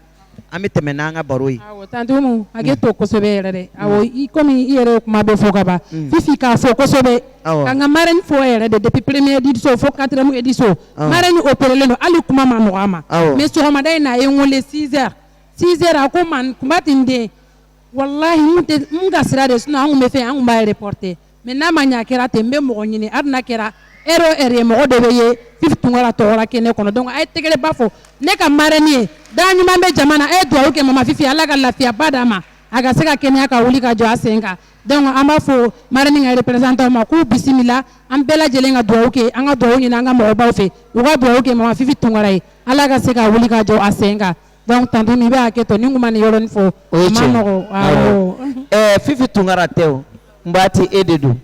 A: an bɛ tɛmɛ n'an ka baro ye tan hakɛ to kosɛbɛ yɛrɛ dɛ i kɔmi i yɛrɛ kuma bɛ fɔ kaban fifi k'a fo kosɛbɛ k'an ka marraine fo yɛrɛ de depuis première édition fo quatrième édition marraine opérélen don hali kuma ma nɔgɔya a ma mais sɔgɔmada in n'a ye n weele six heures six heures a ko ma kunba tɛ den walayi ka sira de sun anw bɛ fɛ anw b'a reporter Mɛ n'a ma ɲɛ kɛra ten n bɛ mɔgɔ ɲini a bɛna kɛra e e ye mɔgɔ dɔ bɛ ye i tun tɔgɔ kɛ ne kɔnɔ dɔn a ye tɛgɛrɛba fɔ ne ka marraine ye da ɲuman bɛ jamana e dugawu kɛ mamafin ye ala ka lafiyaba d'a ma a ka se ka kɛnɛya ka wuli ka jɔ a sen kan an b'a fɔ marraine représentantw ma k'u bisimila an bɛɛ lajɛlen ka dugawu kɛ an ka dugawu ɲini an ka mɔgɔbaw fɛ u ka dugawu kɛ mamafin ye ala ka se ka wuli ka jɔ a sen kan donc tantôt n'i bɛ hakɛ to ni n tun ma nin yɔrɔnin fɔ o ye a ma tiɲɛ nɔgɔn awɔ ɛɛ fifi tunkara tɛ o n b'a ti e de don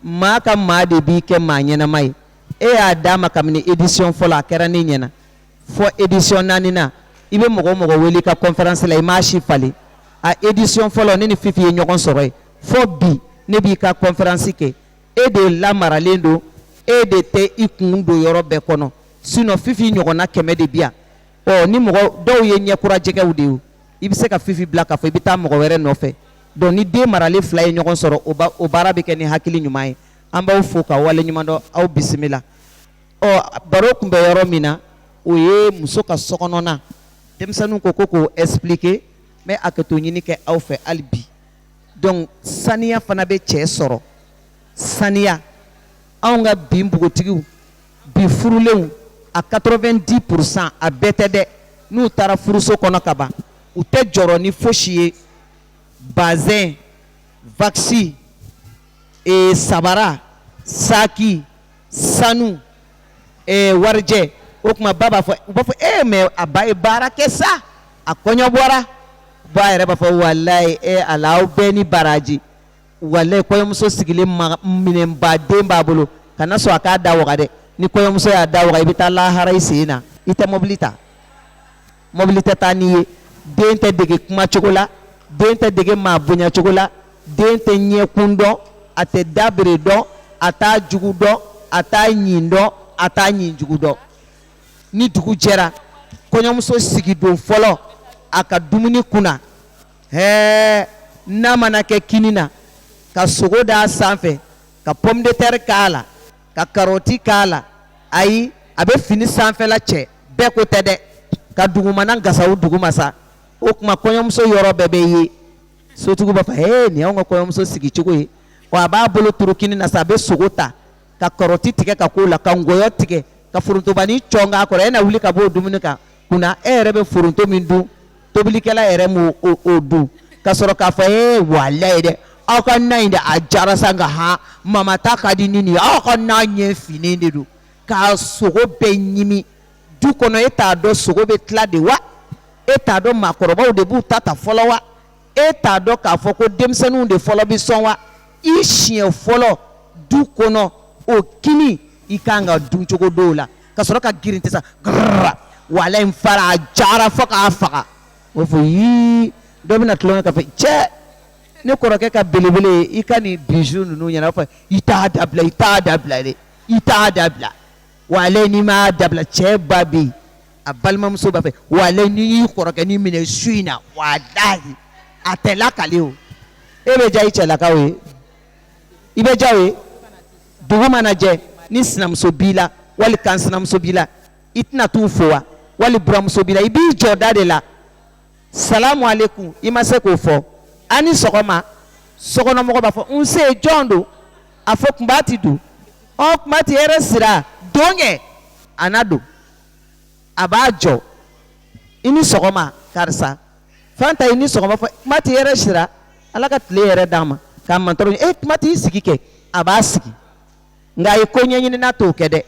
A: maa ka maa de b'i kɛ maa ɲɛnama ye e y'a d'a ma kabini édition fɔlɔ a kɛra ne ɲɛna fo édition naaninan i bɛ mɔgɔ o mɔgɔ wele i ka conférence la i m'a si falen a édition fɔlɔ ne ni fifi ye ɲɔgɔn sɔrɔ yen fo bi ne b'i ka conférence kɛ e de lamaralen don e de tɛ i kun don yɔrɔ bɛɛ kɔnɔ sinon fifi ɲɔgɔnna kɛmɛ de bɛ yan ɔ ni mɔgɔ dɔw ye ɲɛkura jɛgɛw de ye i bɛ se ka fifi bila k'a fɔ i bɛ taa mɔgɔ wɛrɛ nɔfɛ donc ni den maralen fila ye ɲɔgɔn sɔrɔ o ba o baara bɛ kɛ ni hakili ɲuman ye an b'aw fo k'aw waleɲumandɔn aw bisimila ɔ baro tun bɛ yɔrɔ min na o ye muso ka sokɔnɔna denmisɛnninw ko ko k'o expliquer n bɛ hakɛto ɲini kɛ aw fɛ hali bi donc saniya fana bɛ cɛ sɔrɔ saniya anw ka bi npogotigiw bi furulenw a quatre-vingt-dix pour cent a bɛɛ tɛ dɛ n'u taara furuso kɔnɔ kaban u tɛ jɔrɔ ni foyisi ye bazin wakisi ee sabara saki sanu warijɛ o tuma ba b'a fɔ u b'a fɔ e mais a ba ye baara kɛ sa a kɔɲɔ bɔra ba yɛrɛ b'a fɔ walayi ala aw bɛɛ ni baraji walayi kɔɲɔmuso sigilen minɛnba de b'a bolo kana sɔn a k'a da waga dɛ ni kɔɲɔmuso y'a da waga i bɛ taa lahara i sen na i tɛ mɔbili ta mɔbili tɛ taa n'i ye den tɛ dege kuma cogo la den tɛ dege maa bonya cogo la den tɛ ɲɛkun dɔn a tɛ dabere dɔn a t'a jugu dɔn a t'a ɲin dɔn a t'a ɲin jugu dɔn ni dugu jɛra kɔɲɔmuso sigidon fɔlɔ a ka dumuni kunna Hɛɛ na mana kɛ kini na ka sogo da a sanfɛ ka pomme de terre k'a la ka karɔti k'a la ayi a bɛ fini sanfɛla cɛ bɛɛ ko tɛ dɛ ka dugumana gasaw duguma sa o tuma kɔɲɔmuso yɔrɔ bɛɛ bɛ ye sotigiw b'a fɔ hee nin y'anw ka kɔɲɔmuso sigi cogo ye wa a b'a bolo turu kini na sa a bɛ sogo ta ka karɔti tigɛ ka k'o la ka ngɔyɔ tigɛ ka forontobanin cɔn k'a kɔrɔ e na wuli ka bɔ o dumuni kan kunna e yɛrɛ bɛ foronto min dun tobilikɛla yɛrɛ m'o o o dun ka sɔrɔ k'a fɔ ee walayi dɛ aw ka na in dɛ a diyara sa nka han mama ta ka di ni nin ye aw ka na ɲɛ finnen de don k'a sogo bɛɛ ɲimi du kɔnɔ e t'a dɔn sogo bɛ tila de wa e t'a dɔn maakɔrɔbaw de b'u ta ta fɔlɔ wa e t'a dɔn k'a fɔ ko denmisɛnninw de fɔlɔ bɛ sɔn wa i siɲɛ fɔlɔ du kɔnɔ o kini in kan ka dun cogo dɔ la ka sɔrɔ ka girinti sa walayi n fara a diyara fo k'a faga o fɔ yii dɔ bɛna tulon kɛ k'a fɔ cɛ ne kɔrɔkɛ ka belebele i ka nin bizu ninnu ɲɛna fɔ i t'a dabila i t'a dabila dɛ i t'a dabila wala n'i m'a dabila cɛ ba bɛ yen a balimamuso b'a fɛ wala n'i y'i kɔrɔkɛ nin minɛ su in na walahi a tɛ lakale o e bɛ diya i cɛlakaw ye i bɛ diya o ye dugu mana jɛ ni sinamuso b'i la wali kansinamuso b'i la i tɛna t'u fo wa wali buranmuso b'i la i b'i jɔ da de la salamu aleykum i ma se k'o fɔ a ni sɔgɔma sokɔnɔmɔgɔ b'a fɔ nse jɔn don a fɔ kunbati don ɔ kunbati hɛrɛ sira don kɛ a na don a b'a jɔ i ni sɔgɔma karisa Fanta i ni sɔgɔma ɔ kunbati hɛrɛ sira ala ka tile hɛrɛ d'an ma k'a ma dɔrɔn e kunbati i sigi kɛ a b'a sigi nka a ye koɲɛɲinina t'o kɛ dɛ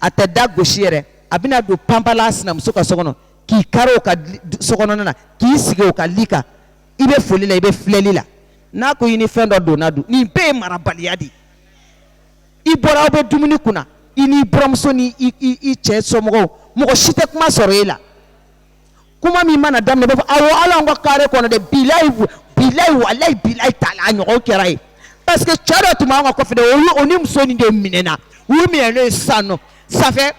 A: a tɛ da gosi yɛrɛ a bɛna don panpla sinamuso ka so kɔnɔ k'i kari o ka sokɔnɔna k'i sigi o ka li kan i bɛ foli la i bɛ filɛli la n'a ko i ni fɛn dɔ donna don nin bɛɛ ye marabaliya de ye i bɔra aw bɛ dumuni kunna i n'i buranmuso ni i cɛ somɔgɔw mɔgɔ si tɛ kuma sɔrɔ e la kuma min mana daminɛ a b'a fɔ awɔ hali anw ka kare kɔnɔ dɛ bilayi bilayi walayi bilayi taala a ɲɔgɔn kɛra ye parce que cɛ dɔ tun b'an ka kɔfɛ dɛ o y'u o ni muso nin de minɛna u minɛ n'o ye sisan nɔ sanfɛ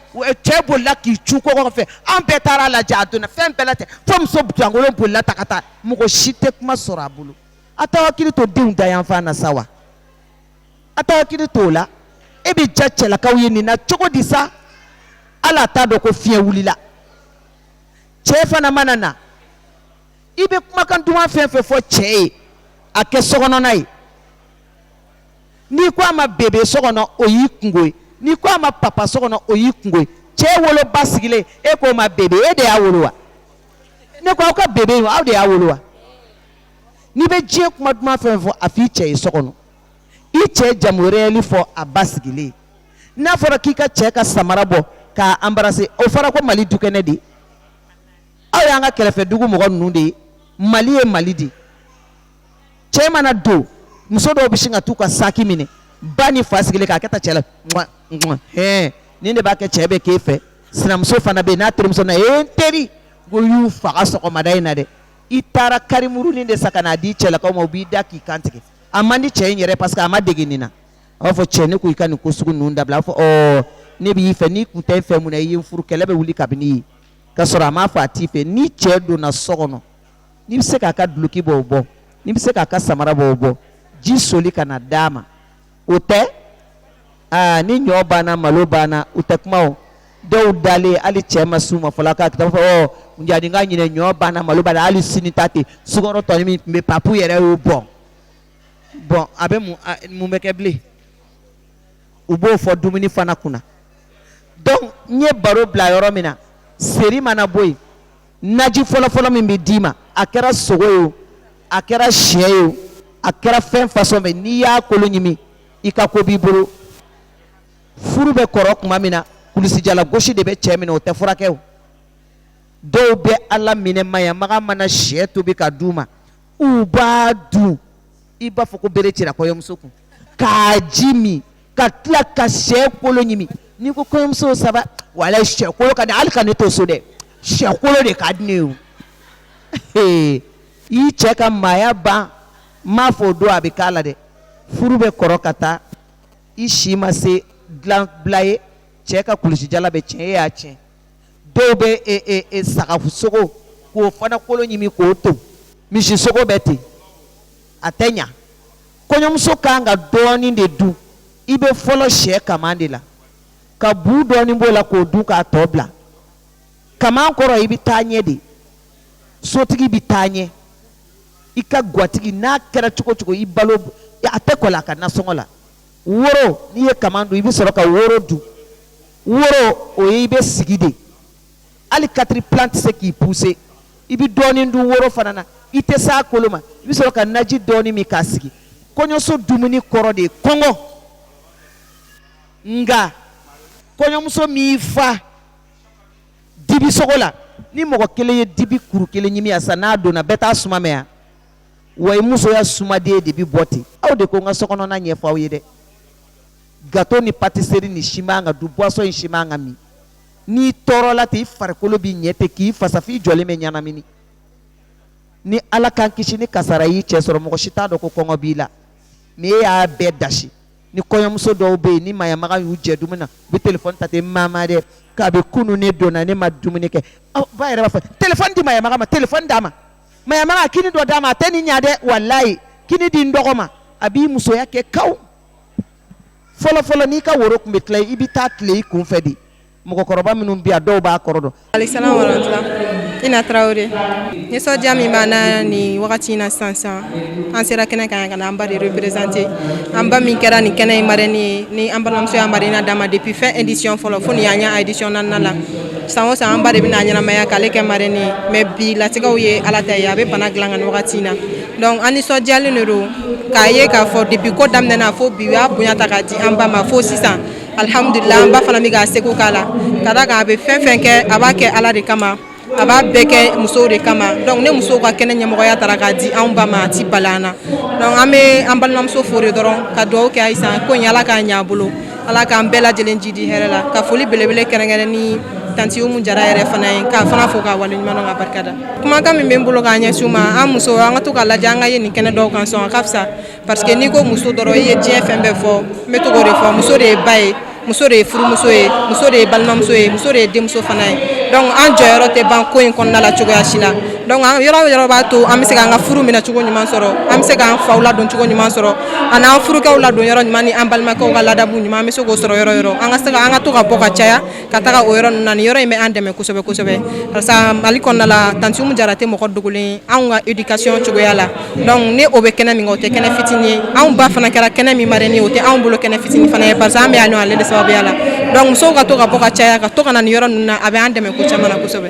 A: cɛ bolila k'i cun kogo fɛ an bɛɛ taara a lajɛ a donna fɛn bɛɛ la ten fo muso jankolon bolila ta ka taa mɔgɔ si tɛ kuma sɔrɔ a bolo a t'aw hakili to denw dayanfan na sa wa a t'aw hakili to o la e bɛ diya cɛlakaw ye nin na cogo di sa hali a t'a dɔn ko fiɲɛ wulila cɛ fana mana na i bɛ kumakan duman fɛn fɛn fɔ cɛ ye a kɛ sokɔnɔna ye n'i ko a ma bebe so kɔnɔ o y'i kungo ye n'i ko a ma papa so kɔnɔ o y'i kungo ye cɛ woloba sigilen e k'o ma bebe e de y'a wolo wa ne ko aw ka bebe in aw de y'a wolo wa n'i bɛ diɲɛ kuma duman fɛn fɛn fɔ a f'i cɛ ye so kɔnɔ i cɛ jamu réel fɔ a ba sigilen n'a fɔra k'i ka cɛ ka samara bɔ k'a anbarase o fɔra ko mali dukɛnɛ de aw y'an ka kɛrɛfɛ dugu mɔgɔ ninnu de ye mali ye mali de cɛ mana don muso dɔw bɛ sin ka t'u ka saki minɛ ba ni fa sigilen k'a kɛ ta cɛ la hɛn nin de b'a kɛ cɛ bɛ k'e fɛ sinamuso fana bɛ yen n'a terimuso nana ee n teri ko n y'u faga sɔgɔmada in na dɛ i taara karimurunin de san ka n'a di cɛlakaw ma u b'i da k'i kan tigɛ a man di cɛ in yɛrɛ parce que a ma dege nin na a b'a fɔ cɛ ne ko i ka nin ko sugu ninnu dabila a b'a fɔ ɔɔ ne b'i fɛ n'i kun tɛ n fɛ mun na i ye n furu kɛlɛ bɛ wuli kabini yen ka sɔrɔ a m'a fɔ a t'i fɛ ni cɛ donna so kɔnɔ n'i bɛ se k'a ka duloki bɔ o bɔ n'i bɛ se k'a ka samara bɔ o bɔ ji soli ka na d'a ma o tɛ aa ni ɲɔ banna malo banna u tɛ kuma o dɔw dalen hali cɛ ma s'u ma fɔlɔ k'a kita fɔ ɔ jani n ka ɲinɛ ɲɔ banna malo banna hali sini ta ten sukaro tɔnin min tun bɛ papu yɛrɛ y'o bɔn bɔn a bɛ mun bɛ kɛ bilen u b'o fɔ dumuni fana kunna donc n ye baro bila yɔrɔ min na seri mana bɔ yen naji fɔlɔfɔlɔ min bɛ d'i ma a kɛra sogo ye o a kɛra sɛ ye o a kɛra fɛn fasɔn bɛɛ n'i y'a kolo ɲimi i ka ko b'i bolo furu bɛ kɔrɔ tuma min na kulusijala gosi de bɛ cɛ minɛ o tɛ furakɛ o dɔw bɛ ala minɛ mayamaga mana sɛ tobi k'a d'u ma u b'a dun i b'a fɔ ko bere cira kɔɲɔmuso kun k'a ji min ka tila ka sɛ kolo ɲimi n'i ko kɔɲɔmuso saba wala sɛ kolo ka di hali ka ne to so dɛ sɛ kolo de ka di ne ye i cɛ ka maaya ban n m'a fɔ o don a bɛ k'a la dɛ furu bɛ kɔrɔ ka taa i si ma se dilan bila ye cɛ ka kulusijala bɛ tiɲɛ e y'a tiɲɛ dɔw bɛ sagasogo k'o fana kolo ɲimi k'o to misi sogo bɛ ten a tɛ ɲɛ kɔɲɔmuso kan ka dɔɔnin de dun i bɛ fɔlɔ sɛ kaman de la ka bu dɔɔnin b'o la k'o dun k'a tɔ bila kaman kɔrɔ i bɛ taa ɲɛ de sotigi bɛ taa ɲɛ i ka gatigi n'a kɛra cogo cogo i balo a tɛ kɔ a ka nasɔngɔ la woro n'i ye kaman dun i bɛ sɔrɔ ka woro dun woro o ye i bɛ sigi de hali katiripilan tɛ se k'i puse i bɛ dɔɔnin dun woro fana na i tɛ se a kolo ma i bɛ sɔrɔ ka naji dɔɔnin min k'a sigi kɔɲɔso dumuni kɔrɔ de ye kɔngɔ nka kɔɲɔmuso min fa dibi sogo la ni mɔgɔ kelen ye dibi kuru kelen ɲimi yan sa n'a donna bɛɛ t'a suma mɛn yan wa i musoya suma de bɛ bɔ ten aw de ko n ka sokɔnɔna ɲɛfɔ aw ye dɛ gato ni patiseri in si man ka dun boisson in si man ka min n'i tɔɔrɔla ten i farikolo b'i ɲɛ ten k'i fasa f'i jɔlen bɛ ɲɛnamini ni ala k'an kisi ni kasara y'i cɛ sɔrɔ mɔgɔ si t'a dɔn ko kɔngɔ b'i la mɛ e y'a bɛɛ dasi ni kɔɲɔmuso dɔw bɛ yen ni mayamaga y'u jɛ dumuni na u bɛ telefɔni ta ten maama dɛ kabi kunun ne donna ne ma dumuni kɛ ba yɛrɛ b'a fɔ telefɔni di mayamaga ma telefɔni d'a ma mayamaga kini dɔ d'a ma a tɛ nin ɲa dɛ walayi kini di n dɔgɔ ma a b'i musoya kɛ kaw fɔlɔfɔlɔ n'i ka woro tun bɛ tila i bɛ taa tile i kun fɛ de mɔgɔkɔrɔba minnu bɛ yan dɔw b'a kɔrɔ dɔn. alesalam warahmatula ina tarawele nisɔndiya min b'an na nin wagati in na sisan sisan an sera kɛnɛ kan yan ka na an ba de représenter an ba min kɛra nin kɛnɛ in marraine ye ni an balimamuso y'a marraine d'a ma depuis fin édition fɔlɔ fo nin y'an y'a édition naaninan la san o san an ba de bɛna ɲɛnamaya k'ale kɛ marraine ye mais bi latigɛw ye ala ta ye a bɛ bana dilan kan nin wagati na donc an nisɔndiyalen de don k'a ye k'a fɔ depuis ko daminɛna fo bi u b'a bonya ta k'a di an ba ma fo sisan alhamdulila an ba fana bɛ k'a seko k'a la ka d'a kan a bɛ fɛn o fɛn kɛ a b'a kɛ ala de kama a b'a bɛɛ kɛ musow de kama donc ne musow ka kɛnɛ ɲɛmɔgɔya tara k'a di anw ba ma a tɛ bala an na donc an bɛ an balimamuso fo de dɔrɔn ka dugawu kɛ a ye sa ko in ala k'a ɲɛ a bolo ala k'an bɛɛ lajɛlen jidi hɛrɛ la ka foli belebele kɛrɛnkɛrɛnnen tanti umu jara yɛrɛ fana ye k'a fana fo k'a waleɲumandɔn k'a barika da kumakan min bɛ n bolo k'a ɲɛsin u ma an musow an ka to k'a lajɛ an ka ye nin kɛnɛ dɔw kan sɔn a ka fisa parce que n'i ko muso dɔrɔn i ye diɲɛ fɛn bɛɛ fɔ n bɛ to k'o de fɔ muso de ye ba ye muso de ye furumuso ye muso de ye balimamuso ye muso de ye denmuso fana ye donc an jɔyɔrɔ tɛ ban ko in kɔnɔna la cogoya si la donc yɔrɔ o yɔrɔ b'a to an bɛ se k'an ka furu minɛ cogo ɲuman sɔrɔ an bɛ se k'an faw ladon cogo ɲuman sɔrɔ ani an furukɛw ladon yɔrɔ ɲuman ni an balimakɛw ka ladabu ɲuman an bɛ se k'o sɔrɔ yɔrɔ o yɔrɔ an ka se ka an ka to ka bɔ ka caya ka taga o yɔrɔ ninnu na nin yɔrɔ in bɛ an dɛmɛ kosɛbɛ kosɛbɛ barisa mali kɔnɔna la tanti umu jara tɛ mɔgɔ dogolen anw ka éducation cogoya la donc ni o bɛ kɛnɛ min kan o tɛ kɛnɛ fitini ye anw ba fana kɛra kɛnɛ min marraine ye o tɛ anw bolo kɛnɛ fitini fana ye barisa an bɛ yan nɔ ale de sababuya la donc musow ka to ka bɔ ka caya ka to ka na nin yɔrɔ ninnu na a bɛ an dɛmɛ ko caman na kosɛbɛ